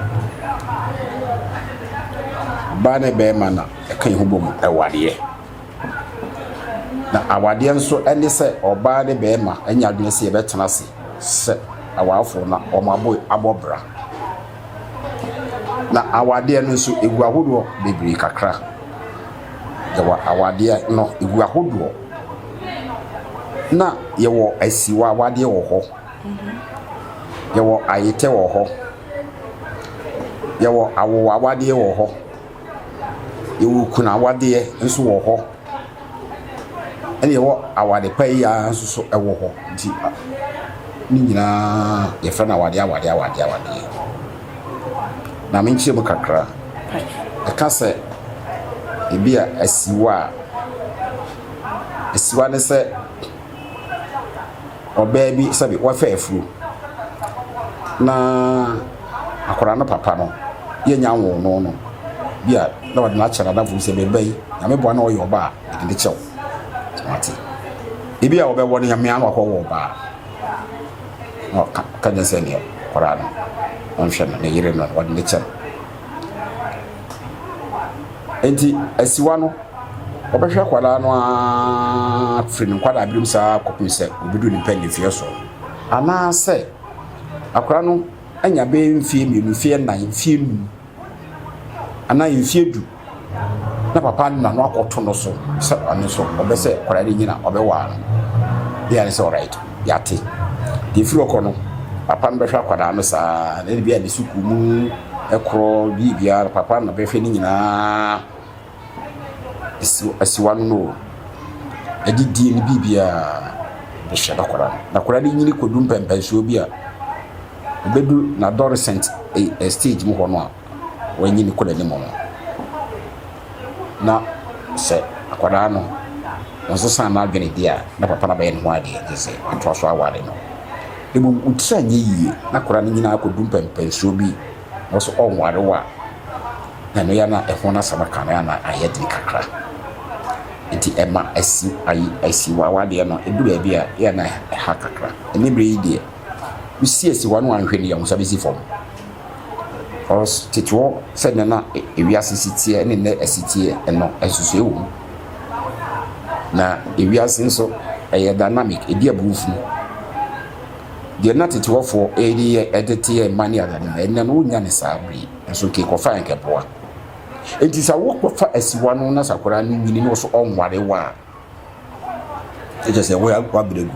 S1: baa ne bɛɛma na ɛka yɛn ho bɔ mu ɛwadeɛ na awadeɛ nso ɛne sɛ ɔbaa ne bɛɛma ɛnyɛ adwene sɛ yɛbɛtena ase sɛ awaafoɔ na wɔn abɔ abɔ bra na awadeɛ no nso egu ahodoɔ bebree kakra. yɛwɔ awadeɛ no ɛgu ahodoɔ na yɛwɔ asiwa awadeɛ wɔ hɔ yɛwɔ ayetɛ wɔ hɔ yɛwɔ awo awadeɛ wɔ hɔ yɛwɔ kunu awadeɛ nso wɔ hɔ ɛna yɛwɔ awade pa yi ara nso so ɛwɔ hɔ nti ne nyinaa yɛfrɛ no awadeɛ awadeɛ awadeɛ awadeɛ. Na me nkyerɛ mu kakra. Ɛka sɛ ebi a asiwa a asiwa ne sɛ ɔbaa bi sɛbi wafa afuro na akwadaa no papa no yɛ nya nwoo no no bi a na ɔde no akyɛ n'adamfo bi sɛ bɛba yi nyame boa na ɔyɛ ɔbaa yɛde ne kyɛw wate ebi a ɔbɛwɔ no nyame ano akɔwɔ ɔbaa. na ɔka ka nyɛ sɛ neɛ koraa no ɔnhwɛ no ne yere no wɔde ne kyɛ no nti asiwa no wɔbɛhwɛ akwadaa no ara firi ne nkwadaa binom saa kɔpem sɛ obedu ne mpɛ ne mfeɛ so anaasɛ akwadaa no anya bɛyɛ mfeɛ mmienu mfeɛ nnan mfeɛ num anaa mfeɛ du na papa no nano akɔto no so sɛ ɔno nso ɔbɛ sɛ kwadaa no nyina ɔbɛwaa no bia ne sɛ ɔrait yɛate deɛ firi ɔkɔ no papa no bɛhwɛ akwadaa no saa na ɛde bia ne sukuu mu ɛkorɔ bie biara papa no bɛhwɛ ne nyinaa asiwa no no ɛde die no bie biara bɛhyɛ no akwadaa no na akwadaa no nyini kɔdu mpɛmpɛnsoɔ bi a ɛbɛdu na adolescent eh, eh, stage mu hɔ no a wanyin kɔ n'anim no, na sɛ akwadaa no ɔnsesa n'adwene di a, na papa no abɛyɛ ne ho adeɛ gye sɛ watoa so aware no. Mmom wo tiri anyɛ yie na akwadaa no nyinaa akɔdu mpɛmpɛnsuo bi na ɔsɛ ɔnware wo a, na ɛno yɛ na ɛho no asɛm aka no yɛ na ayɛ den kakra. Nti ɛma asi ayi asi wa awadeɛ no ɛdu baabi a yɛ na ɛha kakra. Ɛne berɛ yi deɛ, wosi asi wa no anhwɛ no yɛ ho nsa bɛsi fam. Ɔs tete hɔ sɛdeɛ na ewiase si teɛ ne nnɛ ɛsi teɛ no, nsusuiɛ wɔ mu. Na ewiase nso, ɛyɛ dynamic, ɛdi aburoo funu. Deɛ na tete hɔfoɔ ɛde yɛ ɛde teɛ mma ne adeade no, ɛnnɛ no wonnya ne saa bere yi. Nso nka ɛkɔfa anka ɛboa. Enti sɛ wokɔfa asiwa no na sakora no nyini na ɔso ɔnware wo a, na kyerɛ sɛ woabrɛ gu.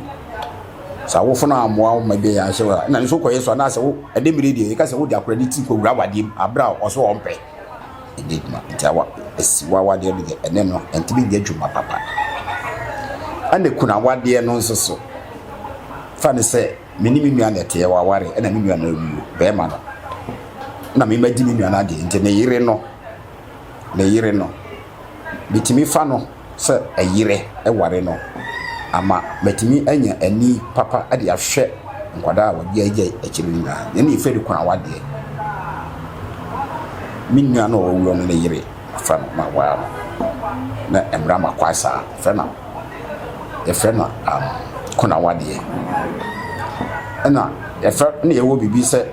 S1: Sɛ awofo no ammoa wo ma ebi a anhyɛ wo a, nna no so kɔ yɛ so anaasɛ wo de bere yi deɛ yɛka sɛ wode akwadaa no ti kɔwura awadeɛ mu bere a ɔse ɔmpɛ. Ɛnyɛ adwuma nti awa asi w'awadeɛ no deɛ ɛne no ɛntumi nyɛ adwuma papa. Ɛna ekunu awadeɛ no nso so fa no sɛ me ne me nua na ɛteɛ waware ɛna me nua no awuo bɛrima no na me magye me nua no adeɛ nti ne yere no ne yere no, metumi fa no sɛ ɛyere ware no ama matumi anya ani papa de ahwɛ nkwadaa a wɔagyaagyae akyire no nyinaa. Yɛn yɛ Fɛrikwan awadeɛ. Me nua no a ɔwɔ wuram no ne yere afa no ma waa no. Na mmara ma kwae saa. Yɛfrɛ no yɛfrɛ no um, konawadeɛ. Ɛna yɛfrɛ na yɛwɔ biribi sɛ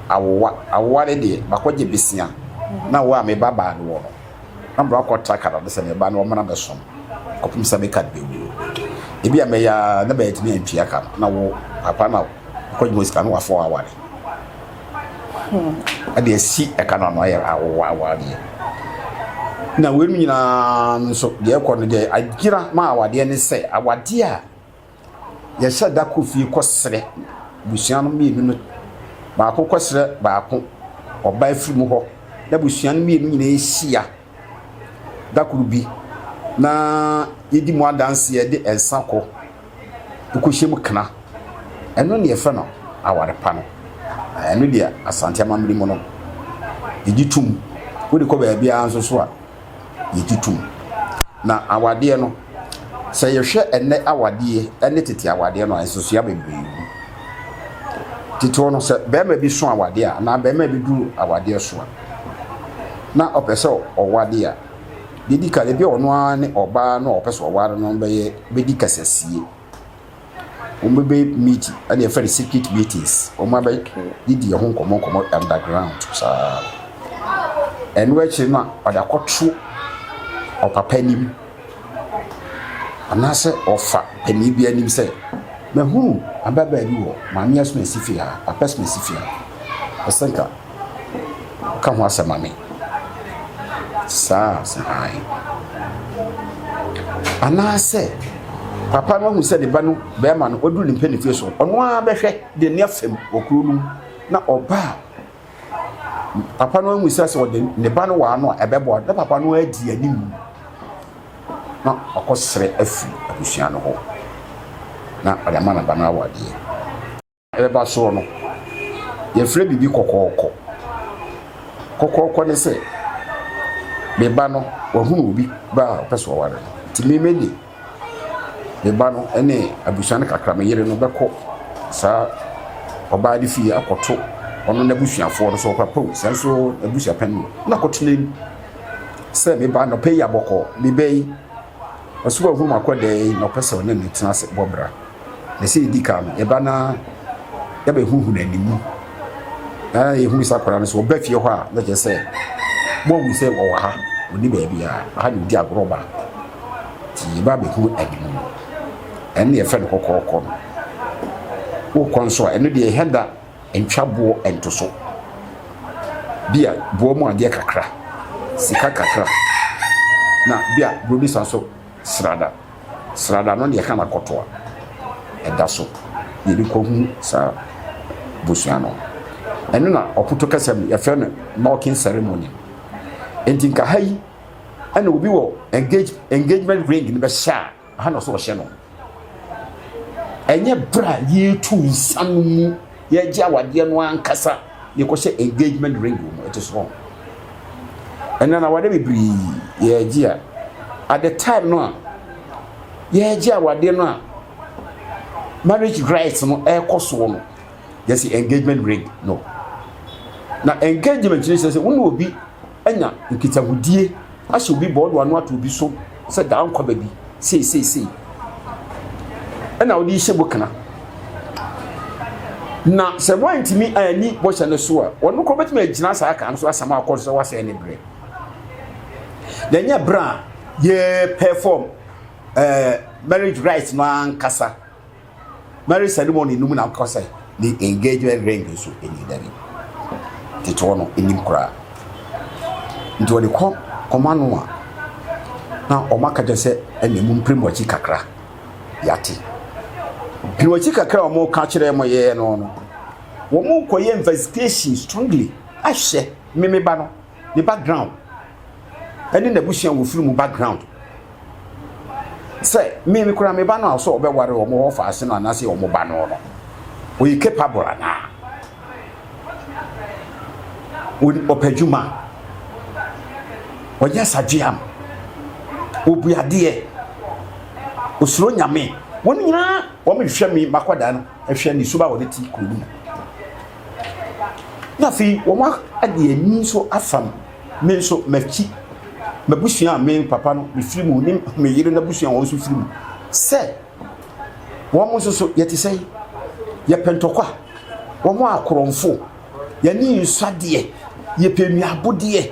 S1: awowa awowa ne deɛ makɔ gye besia na wo a me ba baa no wɔ no na mbrɛ akɔ tra kada no sɛ me ba no wɔmena bɛ som kɔpem sɛ me kad bɛ wuo ebi a mɛyɛ a na bɛ atumi antua ka no na wo papa na akɔ gye mo sika no wafɔ aware ɛde hmm. asi ɛka no ano ayɛ awowa awowa deɛ na wei nyinaa nso deɛ ɛkɔ no deɛ agyina ma awadeɛ ne sɛ awadeɛ a Yɛhyɛ da kɔ fie kɔsrɛ abusua no mmienu no. Baako kɔsrɛ baako, ɔba afiri mu hɔ, na abusua no mmienu nyinaa hyia da koro bi na yɛdi mu adanseɛ de nsa kɔ kɔhyɛ mu kena. Ɛno ne yɛfrɛ no aware pa no. Ɛno deɛ Asante amammerɛ mu no, yɛgye tom. Wode kɔ baabiara nso so a, yɛgye tom. Na awadeɛ no, sɛ yɛhwɛ ɛnnɛ awadeɛ ne tete awadeɛ no a, nsosua bebree wɔ mu. Titire no, sɛ barima bi so awadeɛ a, anaa barima bi duru awadeɛ so a, na ɔpɛ sɛ ɔwade a, deɛ ɛdi kan, ebi a ɔno ara ne ɔbaa no a ɔpɛ sɛ ɔware no bɛyɛ bɛdi kasasie. Wɔn bɛ bɛ meet ɛna yɛfrɛ no secret meetings. Wɔn abɛ di di ɛho nkɔmɔ nkɔmɔ underground saa. Ɛno akyire no a ɔde akɔto ɔpapa anim anaasɛ ɔfa panin bi anim sɛ mahunu ababaa bi wɔ maame asoma si fie ha papa asoma si fie ha. Ɛsɛ nka ka ho asɛm ma me saa a sɛ ae anaasɛ papa no ahu sɛ ne ba no bɛrima no ɔduru ne mpanimfoɔ so ɔno ara bɛhwɛ de ne afam wɔ kuro no mu na ɔba a papa no ahu sɛ sɛ ɔde ne ba no wɔ ano a ɛbɛboa na papa no adi anim na ɔkɔsrɛ afiri abusua no hɔ na ɔde ama ne ba no awadeɛ Ɛba soɔ no, yɛfrɛ biribi kɔkɔɔkɔ. Kɔkɔɔkɔ ne sɛ, me ba no wahunu obi ba a ɔpɛ sɛ ɔware no, nti me me de me ba no ne abusua no kakra, me yere no bɛkɔ saa ɔbaa no fie akɔto ɔno n'abusuafoɔ no sɛ ɔkɔ apɛw saa nso abusua pɛn no na kɔtena mu sɛ me ba no pɛ yi abɔkɔ me ba yi ɔsɛ wahunu akɔ dɛɛ na ɔpɛ sɛ ɔne ne tena ase bɔ bra. Na sɛ yɛdi kan no, yɛba na yɛabɛhuhu n'animu. Na yɛhunu sɛ akwadaa no so ɔba fie hɔ a, na kyerɛ sɛ moahu sɛ ɔwɔ ha, ɔni baabi a aha na ɔdi agorɔ ba. Nti yɛba bɛhu animu no. Ɛno na yɛfrɛ no kɔkɔɔkɔ no. Wokɔ nso a, ɛno deɛ ɛhɛ da ntwa boɔ ntoso. Bi a boɔ mu adeɛ kakra, sika kakra, na bi a borɔdisa nso. Srada srada no deɛ hana kɔto a ɛda so yɛde kɔ hu saa bosua no ɛno na ɔpoto kɛsɛm no yɛfrɛ no knocking ceremony nti nka ha yi ɛna obi wɔ engage engagement ring no bɛhyɛ a ha na ɔsɛ ɔhyɛ no ɛnyɛ bra yɛtu nsa no mu Yɛregye awadeɛ no ankasa na yɛkɔhyɛ engagement ring wɔ mu ɛte so wɔn ɛnna na awadeɛ bebree yɛregye a at the time no a yɛregye awadeɛ no a marriage rights no ɛrekɔ soɔ no yɛsi engagement ring no na engagement no sɛ sɛ wɔn obi. anya nkitahodie ahyɛ obi bɔ ɔde wano ato obi so sɛ daa nkɔ baabi sei sei sei ɛna ɔde hyɛ bɔ kana na sɛ wantumi anni bɔhyɛ no so a ɔno kɔ bɛtumi agyina saa kan no so asɛm akɔ so sɛ wasɛe ne berɛ na ɛnyɛ berɛ a yɛ perform ɛɛ eh, marriage rights no ankasa Marriage ceremony no mu na wokɔ sɛ ne engagement ring nso ɛni dabi teteɔ no ɛnim koraa nti wɔde kɔ ɔma no a na ɔma ka kyɛ sɛ ɛne mu mpere mu akyi kakra yɛate pere akyi kakra a wɔka kyerɛ mo yɛɛ no no wɔn kɔyɛ investigation strongly ahwɛ mmeba no ne background ɛne n'abusua wɔ firi mu background sɛ me me kura me ba no a sɛ ɔbɛware wɔn wɔ faase no anaasɛ wɔn ba no no ɔyɛ capable anaa ɔpɛ adwuma ɔyɛ sadweam ɔbu adeɛ ɔsuro nyame wɔn nyinaa wɔn hwehwɛ me makɔda no ɛhwɛ ne suba wɔde ti kuro no mu na afei wɔn ade ani nso afam Me nso m'akyi, m'abusua a me papa no mefiri mu ne me yere n'abusua a wɔn nso firi mu sɛ wɔn nso so yɛte sɛ yɛpɛ ntɔkwa, wɔn a korɔmfo, yɛne nsɔ adeɛ, yɛpɛ nnuabodeɛ,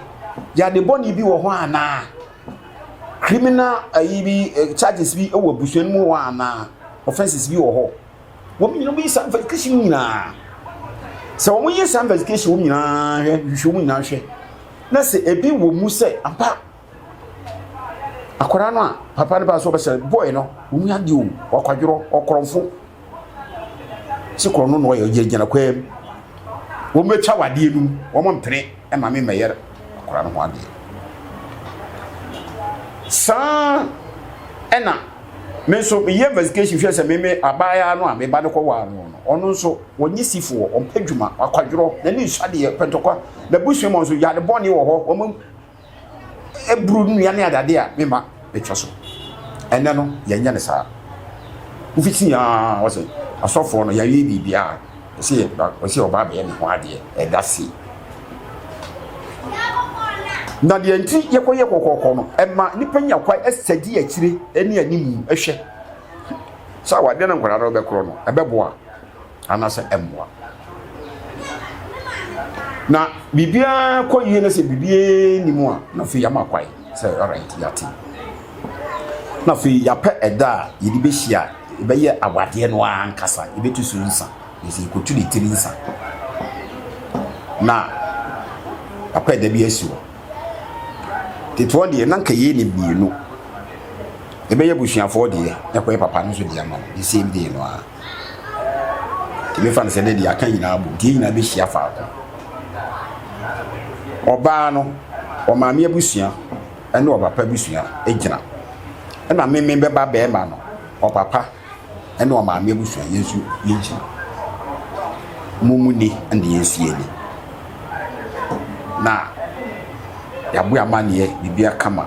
S1: yɛade bɔne bi wɔ hɔ anaa? Criminal ayi bi eh, charges bi wɔ abusua no mu hɔ anaa? Offenses bi wɔ hɔ. wɔn nyinaa wɔyɛ saa investigation no nyinaa sɛ wɔn yɛ saa investigation wɔn nyinaa hwɛ hwehwɛ wɔn nyinaa hwɛ na sɛ ebi wɔ mu sɛ ampa akwadaa no a papa no ba so ɔbɛsɛ bɔɔl no wɔn mu adi o ɔkwadworɔ ɔkorɔnfo sɛ korɔ no na ɔyɛ gyinagyina kwan mu wɔn bɛtwa wadeɛ no wɔn mpene. ma me mmɛyɛ akwadaa no ho adeɛ. Saa ɛna me nso meyɛ investigation hwɛ sɛ meme abaayaa no a me ba no kɔ waa no no ɔno nso wɔnye sifoɔ ɔmpɛ dwuma akwadworɔ n'ani nsu adeɛ pɛntɔkwa n'abusua mu nso yade bɔne wɔ hɔ wɔn aburo nnua ne adade a me mma bɛtwa so. Ɛnnɛ no, yɛnyɛ no saa. Wofiti a wɔsɛ asɔfoɔ no yɛayɛ biribiara, ɛsɛ wɔsɛ ɔbaa bɛyɛ ne ho adeɛ, ɛda se. Na deɛ nti yɛkɔyɛ kɔkɔɔkɔ no, ɛma nnipa nya kwa ɛsɛ di akyire ne animu ɛhwɛ. Sɛ awadeɛ no nkwadaa no bɛkorɔ no, ɛbɛboa. anaasɛ ɛmmoa. Na biribiara kɔ yie na sɛ biribiara nni mu a na afei yɛama kwae sɛ alright yɛate. Na afei yɛapɛ ɛda a yɛde bɛhyia a yɛbɛyɛ awadeɛ no ara ankasa yɛbɛtu so nsa na sɛ yɛkɔtu ne tiri nsa na apɛ ɛda bi asi hɔ tetoɔ deɛ na nka yei ne mmienu ɛbɛyɛ abusuafoɔ deɛ na ɛkɔyɛ papa no nso deɛ ama no the same day no ara Tumi fa no sɛ ne deɛ aka nyinaa bom nti yɛn nyinaa bɛhyia faako. Ɔbaa no, ɔmaame abusua ne ɔpapa abusua gyina. Ɛna meme bɛba bɛrima no, ɔpapa ne ɔmaame abusua yɛn nso yɛgyina. Mo mu ni ne yɛn nso yɛn ni. Na yɛaboa amanneɛ biribiara kama.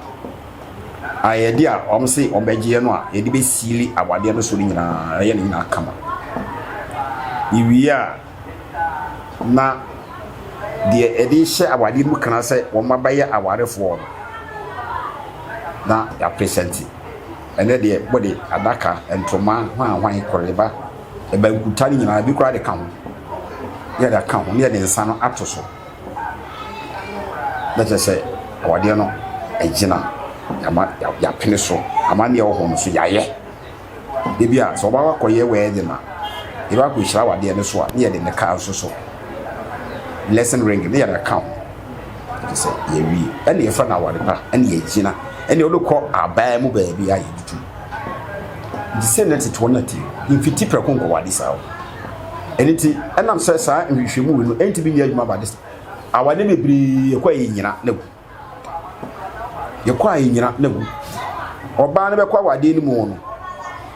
S1: ayɛyɛdeɛ a wɔn se wɔn bɛgyeɛ no a yɛde bɛ siili awadeɛ no so no nyinaa ɛyɛ ne nyinaa kama yɛwie a na deɛ ɛde hyɛ awadeɛ no mu kana sɛ wɔn abɛyɛ awarefoɔ no na yɛapresɛnte ɛnɛ deɛ bɔde adaka ntoma hwanhwan kɔreba ɛbankuta no nyinaa bi koraa de ka ho ne yɛde aka ho ne yɛde nsa no ato so na kyerɛ sɛ awadeɛ no agyina yɛama yɛapene so amanneɛ wɔ hɔ no so yɛayɛ da bi a sɛ ɔbaa wakɔyɛ wedding a yɛbɛ akɔhyira awadeɛ no so a ne yɛde ne kaa nso so blessing ring ne yɛde aka ho kyerɛ sɛ yɛwie ɛne yɛfrɛ no awade pa ɛne yɛagyina ɛne wode kɔ abaa mu baabi a yɛtutu nti sɛ na tete wɔn na ti mfiti prɛko nkɔ wade saa o ɛno nti ɛnam sɛ saa nhwehwɛmu wei no ɛnti bi nyɛ adwuma ba de awade bebree ɛkɔ a yɛnyina na gu yɛkɔ a yɛnyina na gu ɔbaa no bɛkɔ awadeɛ no mu no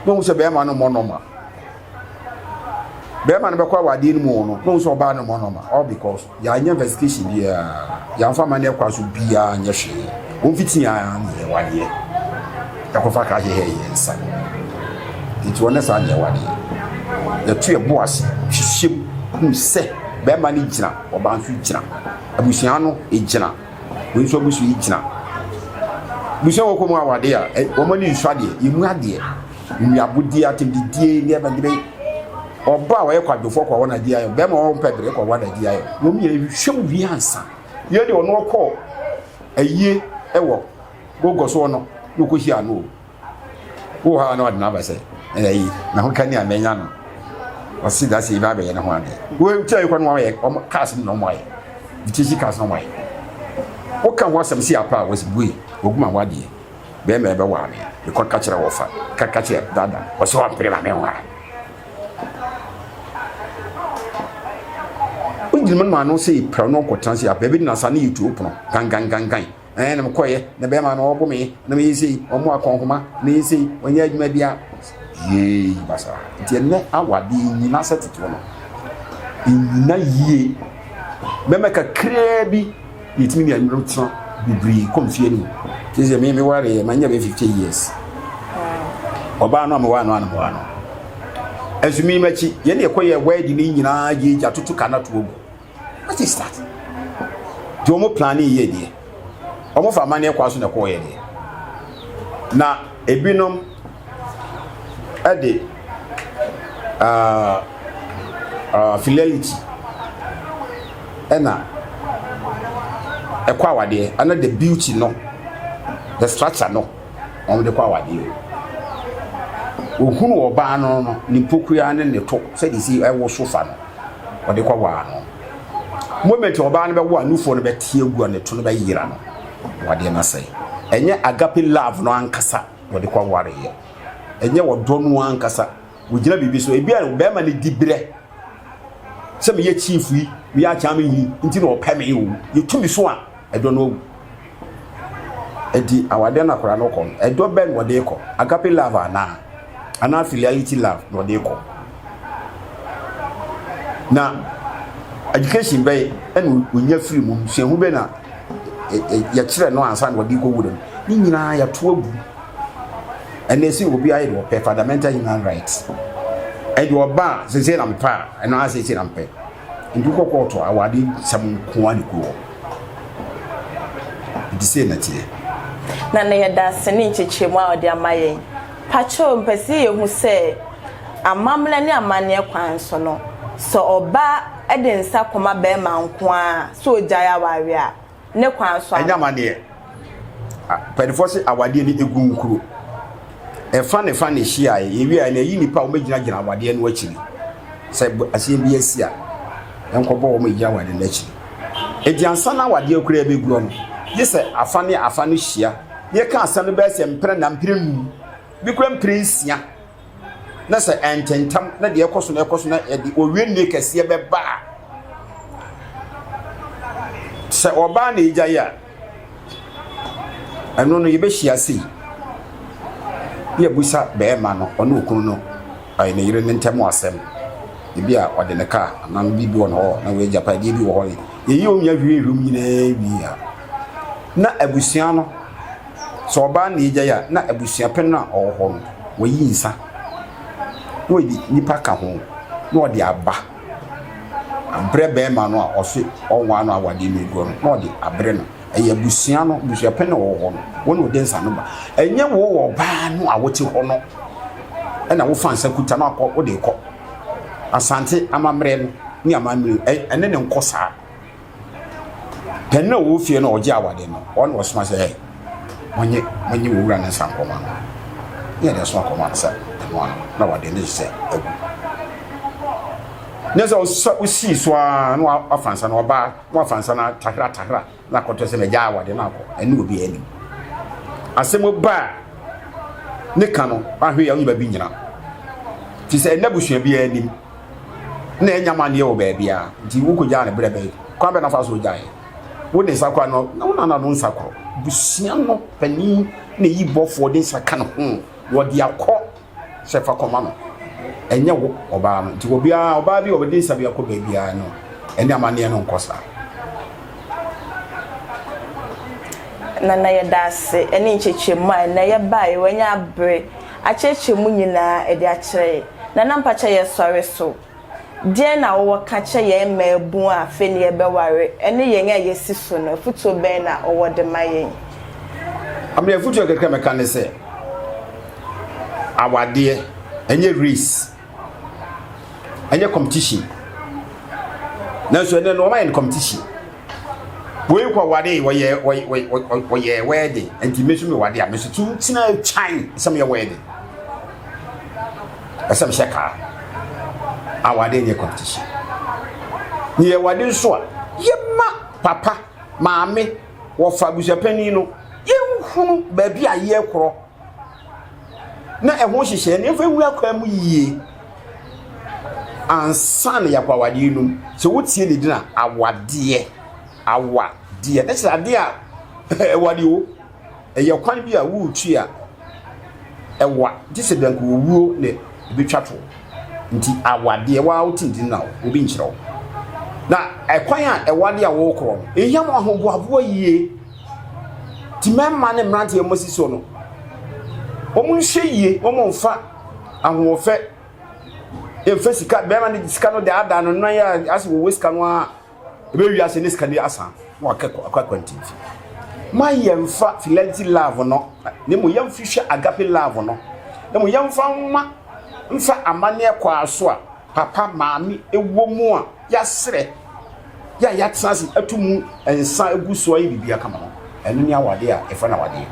S1: na ɔhu sɛ bɛrima no mmɔ nɔma bɛrima no bɛkɔ awadeɛ no mu wɔ no na ɔhu sɛ ɔbaa no mmɔnɔma all because yɛanyɛ investigation biara yɛamfa ma ne ɛkwa so biara nyɛ hwee wɔmfiti a ne yɛwadeɛ ɛkɔfa ka hyehyɛ yɛ nsa nti wɔne saa ne yɛwadeɛ yɛto yɛbo ase hyehyɛ mu hu sɛ bɛrima no gyina ɔbaa nso gyina abusua no gyina wei nso abusua yi gyina busua wɔkɔ mu awadeɛ a wɔn ani nsu adeɛ yɛmu adeɛ Nnuabodie, atemdidie, nneɛma bi bɛyɛ. Ɔbaa a ɔyɛ kwadwofoɔ kɔ wɔn agye ayɛ, bɛrima a ɔmpɛ bere kɔ wɔn agye ayɛ. Wɔn nyinaa hwehwɛ mu wie ansa. Yei deɛ ɔno ɔkɔ ayie wɔ Gogo soɔ no na ɔkɔhyia no o. Wowɔ hɔ a na ɔde no aba sɛ ɛyi na ho kani a mɛnya no. Ɔse da sɛ yɛbɛ abɛyɛ ne ho adeɛ. Wɔkyerɛ yɛkɔ no wɔayɛ wɔn cars no na wɔn ayɛ. British cars na wɔn ayɛ. Woka ho asɛm si apa a wɔsi bue wɔguma ho adeɛ. Bɛɛma ɛbɛ waa me me kɔ ka kyerɛ wɔfa ka ka kyerɛ dada ɔsɛ wɔn pere ma me nwa o gyina mu ano sɛ yɛ pira no ɔkɔ tena se yɛ abɛɛ bi na sa ne yɛ tuo pono gangan gangan ɛɛ na me kɔ yɛ na bɛɛma na ɔbɔ me na me yɛ sɛ yi ɔmo akɔnkoma na yɛ sɛ yi ɔnyɛ adwuma bi a yee basa nti ɛnɛ awadeɛ nyina sɛ tete wɔn nyina yie bɛɛma kakraa bi. Yɛtumi ne yɛyerenom tena bebree kɔ mfeɛ no mu. Te sɛ me mewareɛ manya bɛ 50 years. Ɔbaa no a mewaa no a na mewaa no. Ɛnso me makyi yɛne yɛkɔ yɛ wɛdi ne nyinaa yɛ gya toto ka na to agu. What is that? Deɛ wɔn plane yɛ deɛ. Wɔn fa amaneɛ kwan so na ɛkɔɔ yɛ deɛ. Na ebinom ɛde uh, uh, fidelity ɛna ɛkɔ awadeɛ ɛna the beauty no the structure no wɔn de kɔ awadeɛ ohunu ɔbaa no no ne mpokua ne ne to sɛde si ɛwɔ sofa no ɔde kɔ waa no moment ɔbaa no bɛwɔ a nufoɔ no bɛte agu a ne to no bɛyera no wadeɛ no asɛe ɛnyɛ agape love no ankasa wɔde kɔ aware yɛ ɛnyɛ wɔdɔ no ankasa wɔgyina biribi so ebi a bɛrima no di berɛ sɛ meyɛ chief yi meyɛ akyɛn me hini nti na ɔpɛ me o yɛtumi so a ɛdɔ no awu ɛdi awadeɛ no akora no kɔ no ɛdɔ bɛn na ɔde kɔ agape love anaa anaa filiality love na ɔde kɔ na education bɛyɛ ɛna onya firi mu suahu bɛ na yɛkyerɛ no ansa na ɔde kɔ wura mu ne nyinaa yɛto agu ɛna ɛsɛ obi ayɛ deɛ ɔpɛ fundamental human rights ɛde ɔba a sese na mpɛ a ɛno ara sese na mpɛ nti kɔ kɔɔto awade nsɛm nko a ne kuro nti sei na teɛ na na
S3: yɛda ase ne nkyekyerɛmu a ɔde ama yɛn Pakyɛw mepɛ sɛ yɛhu sɛ amammerɛ ne amanneɛ kwan so no, sɛ ɔbaa de nsa kɔma barima nko ara sɛ ɔgyae awareɛ a, ne kwan so anaa? Ɛnyɛ amanneɛ.
S1: Mpanimfoɔ se awadeɛ no ɛgu nkuro. Ɛfa ne fa na ɛhyiaeɛ. Yɛwie a, yɛyi nnipa a wɔbɛgyinagyina awadeɛ no akyiri. Sɛ aseɛ bi asi a, yɛnkɔbɔ wɔn a ɛgyina awadeɛ no akyiri. Enti ansa na awadeɛ koraa bɛguɔ no, gye sɛ afa ne afa no hyia. yɛka asɛm no bɛyɛ sɛ mpere na mpere num bi kura mpere nsia na sɛ ɛntentam na deɛ ɛkɔ so na ɛkɔ so na ɛde owie nne kɛseɛ bɛba a sɛ ɔbaa na ɛgya yi a ɛno no yɛbɛhyia sei ne abusa bɛrima no ɔne okunu no ɔyɛ ne yere ne ntɛm asɛm ebi a ɔde ne kaa anaa no bi bi wɔ hɔ na wɔagya pa ebi wɔ hɔ yɛyi wɔn nyɛ hwie hwim nyinaa wie a na abusua no, sɛ ɔbaa na egyae a, na abusuapɛn no a ɔwɔ hɔ no, wayi nsa na ɔde nnipa ka ho na ɔde aba abrɛ barima no a ɔse ɔnwaa no awadeɛ no aguɔ no na ɔde abrɛ no. Ɛyɛ abusua no, abusuapɛn na ɔwɔ hɔ no, wɔn na ɔde nsa no ba. Ɛnyɛ wo wɔ ɔbaa no a wote hɔ no ɛna wofa nsa kuta no akɔ wode kɔ. Asante amammerɛ no ne amammerɛ ɛne ne nkɔ saa. Pɛn no a ɔwɔ fie no a ɔgye awade no, ɔno ɔsoma sɛ, ɛ, monye monye wɔ wura no nsa nkɔma no. Ne yɛde nso akɔma no sɛ ɛno ano na wade ne sɛ agu. Ne sɛ ɔsɛ ɔsii so ara na wafa nsa no ɔbaa na wafa nsa no atahra atahra na akɔtɔ sɛ mɛgya awade no akɔ ɛne obi anim. Asɛm ba ne ka no ahwe yɛ ɔnyɛ baabi nyina. Fi sɛ ɛnna busua biara anim na ɛnyɛ amaneɛ wɔ baabiara nti wokɔgyaa no berɛ bɛn kwan bɛ na fa so gyaeɛ wo ne nsa kora no na wonana no nsa korɔ busua no panin na ɛyi bɔfoɔ de nsa ka ne ho wɔde akɔ sɛ fa kɔma no ɛnyɛ wo ɔbaa no nti obiara ɔbaa bi wɔde nsa bi akɔ baabiara no ɛne amaneɛ no nkɔ saa na na yɛda
S3: ase ne nkyɛkyɛmu a na yɛbaeɛ wanya abere akyerɛkyerɛ mu nyinaa de akyerɛ yɛn. Nana mpakyɛ yɛ sɔre so deɛn na wowɔ ka kyerɛ yɛn mmaabun a afei na yɛbɛware ɛne yɛn a yɛsi so no afutuo bɛn na wowɔ de ma yɛn. Ame afutuo kakra mɛka ne sɛ awadeɛ ɛnyɛ race. ɛnyɛ competition nanso ɛnɛ no ɔmayɛ no competition wei kɔ wade wɔyɛ wɔyɛ wɛɛde nti me nso me wade a me nso tu tena kyan sɛ meyɛ wɛɛde ɛsɛ mehyɛ kaa a wade nyɛ competition yɛ wade nso a yɛma papa maame wɔfa abusuapanin no yɛnhunu baabi a yɛkorɔ na ɛho nhyehyɛe no yɛmfa nwura kwan mu yie ansa na yɛakɔ awadeɛ no mu sɛ wotie ne din a awadeɛ awadeɛ na kyerɛ adeɛ a ɛwade o ɛyɛ kwan bi a woretu a ɛwa gye sɛ danko owuo na ɛbɛtwa to nti awadeɛ waa wote ne din na obi nkyerɛ wo na ɛkwan a ɛwade a wɔrekorɔ no ɛhia ma ahoboaboa yie Ti mmarima ne mmeranteɛ a wɔasi soɔ no, wɔnhwɛ yie, wɔmfa ahoɔfɛ mfa sika, barima no de sika no daadaa no nan a asɛ wɔwɔ sika no a ɛbɛwi ase ne sika no asa na wakɔ akwantin fi. Ma yɛmfa filanti love no, na mmom yɛmfihwɛ agape love no, na mmom yɛmfa mma mfa amanneɛ kɔ aso a Papa, maame wɔ mu a yɛasrɛ yɛ a yɛatena ase atu mu nsa agu so ayɛ biribi akama no, ɛno ne awadeɛ a yɛfrɛ no awadeɛ.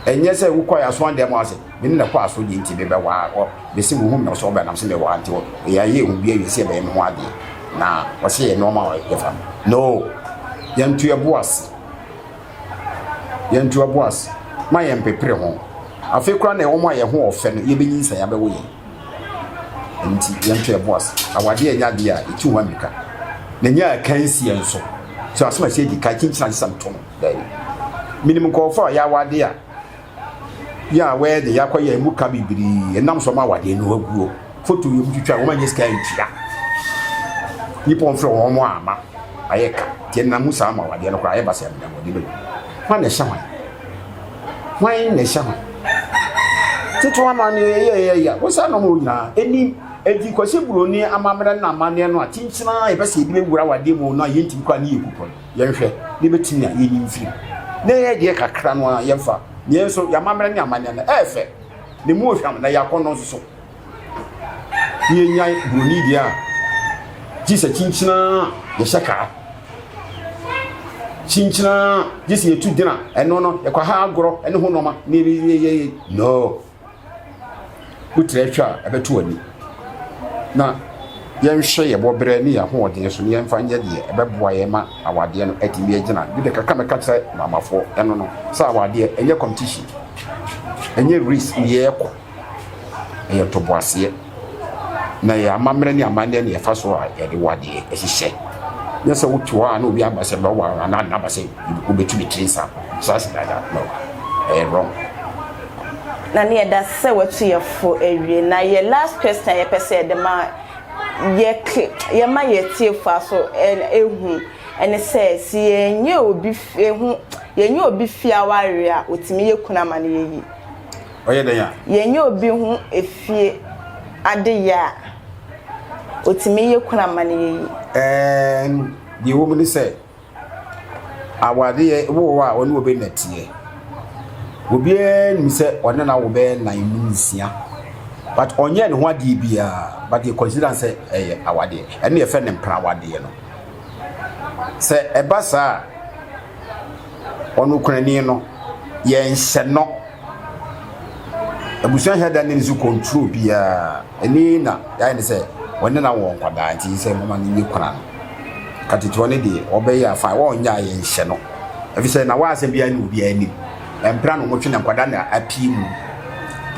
S3: Ɛnyɛ sɛ wokɔ yɛ aso andan mu ara sɛ, me ne no kɔ aso deɛ nti mebɛwaa wɔ, mese wo hu me sɛ wobɛnam sɛ mewaa nti wɔ, yɛayɛ ɛho bi awie sɛ yɛbɛyɛ me ho adeɛ na wɔsɛ yɛ nnoɔma a yɛfa no. No! Yɛnto yɛn bo ase. Yɛnto yɛn bo ase. Ma yɛmpepere ho. Afei koraa na wɔn a yɛn ho ɔfɛ no, yɛbɛnyinsɛn abɛwo yɛn. Nti yɛnto yɛn ho ase. Awadeɛ nyɛ adeɛ a ɛtu hɔ mmirika, na ɛnyɛ akansie nso. So asɛm a ɛsɛ yɛdi kan kyinkyin ansa sɛ nto no? Daabi. Menim nkurɔfoɔ a wɔyɛ awadeɛ a yɛ a wɔyɛ de yɛakɔ yɛn mu ka bebree ɛnam so wɔn awadeɛ no aguo. Foto yɛ wɔtwitwa a wɔn anyɛ sika antua. Nnipa a
S1: wɔmfrɛ wɔn wɔn amma ayɛ ka. Nti ɛnam mu saa ma awadeɛ no koraa yɛ ba sɛ ɛmmerɛ wɔde bɛgu. Hwan na ɛhyɛ hwan? Hwan na ɛhyɛ hwan? Tete amanneɛ yɛ yɛ yɛ yɛ wosan na wɔn nyinaa anim edi kwasi buroni amammerɛ na amanneɛ no a tenten a yɛpɛ sɛ yɛde bɛwura awadeɛ mu no a yɛntumi kɔ ne yɛ kukɔ no yɛnhwɛ na yɛbɛtumi a yɛnyi mfiri na yɛ deɛ kakra no a yɛmfa na yɛn nso yɛ amammerɛ ne amanneɛ no ɛyɛ fɛ na mu ohwam na yɛ akɔnnɔ nso so ne yɛnyae buroni deɛ a gye sɛ kyinkyina yɛhyɛ kaa kyinkyina gye sɛ yɛtu gyina ɛno no yɛkɔ ha agorɔ ne ho nɔma ne yɛyɛyɛ no wotrɛ hwɛ a ɛbɛto ani na yɛnhwɛ yɛ bɔberɛ ne yɛ ahoɔden so ne yɛmfa nyɛ deɛ ɛbɛboa yɛ ma awadeɛ no atumi agyina bi de kaka mɛka kyerɛ maamafoɔ ɛno no sɛ awadeɛ ɛnyɛ competition ɛnyɛ race ne yɛkɔ ɛyɛ ntoboaseɛ na ɛyɛ amammerɛ ne amanneɛ ne ɛfa so a yɛde wɔ adeɛ ɛhyehyɛ nyɛ sɛ wote hɔ a na obi aba sɛ bɛwɔ a na nna aba sɛ wobɛtu ne tiri nsa so ase dada no ɛyɛ wrong
S3: na ne yɛda sɛ watu yɛ fo awie na yɛ last question a yɛpɛ sɛ yɛde ma yɛ yɛma yɛ tiefo aso ehu ɛne sɛ si yɛnyɛ obi ehu yɛnyɛ obi fi awareɛ a otumi yɛ kuna ma no yɛ yi. ɔyɛ dɛn a?
S1: Yɛnyɛ obi ho
S3: efie adeyɛ a, otumi yɛ kunu amanneɛ yi? Ɛɛn,
S1: deɛ ɛwɔ mu ne sɛ, awadeɛ wo wɔ hɔ a, ɔne wo bɛ na teɛ. Obiara nim sɛ ɔne na wo bɛ na nnum nsia. But ɔnyɛ ne ho adeɛ biara, but yɛ consider sɛ ɛyɛ awadeɛ. Ɛne yɛfɛ ne mpena awadeɛ no. Sɛ ɛba saa a, ɔnokorani no yɛ nsɛnnɔ. Abusua hia da ne so control biara. Ɛni na yɛayɛ ne sɛ wɔne na wɔ nkwadaa nti sɛ mama no nye kora no. Katetewa no deɛ ɔbɛyɛ afa wɔnyɛ a yɛnhyɛ no. Ɛfiri sɛ na wɔasɛm biara ne obiara anim. Ɛmpra na wɔtwe na nkwadaa na apii mu.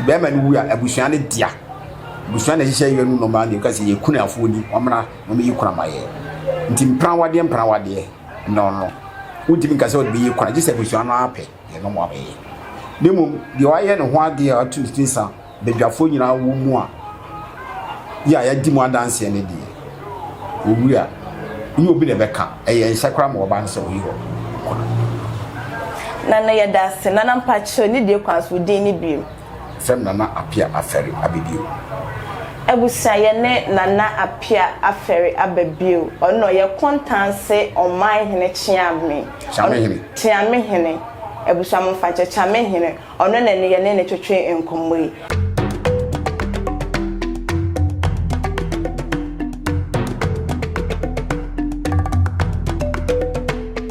S1: Bɛrima no wu a abusua no dea. Abusua na ɛhyehyɛ yɛ no nɔma deɛ ɔka sɛ yɛ kunafoɔ ni wɔmmra wɔmmɛyi kora ma yɛ. Nti mprawadeɛ mprawadeɛ. no no, wontumi nka sɛ ɔde bɛyɛ kwan gye sɛ abusua no ara pɛ deɛ ɛno mmoa bɛyɛ. Na mmom deɛ wayɛ ne ho adeɛ a watu ne tiri sa badwafoɔ nyinaa wɔ mu a yɛ a yɛadi mu adanseɛ no deɛ wɔwu a ne obi na ɛbɛka ɛyɛ nhyɛ koraa ma wɔba no sɛ wɔyi hɔ kɔ no.
S3: na no yɛda ase nana mpakyerɛ ne die kwan so din ne bio. Fɛm Nana
S1: Apia Afɛre abɛ bio. Abusua
S3: yɛne Nana Apia Afɛre aba bio. Ɔno na ɔyɛ Kɔntanse Ɔman Hene Kyeame. Kyeame Hene. Kyeame Hene. Abusua mo mfa nkyɛ. Kyeame Hene. Ɔno na ɛne yɛne no twetwe nkɔmmɔ yi.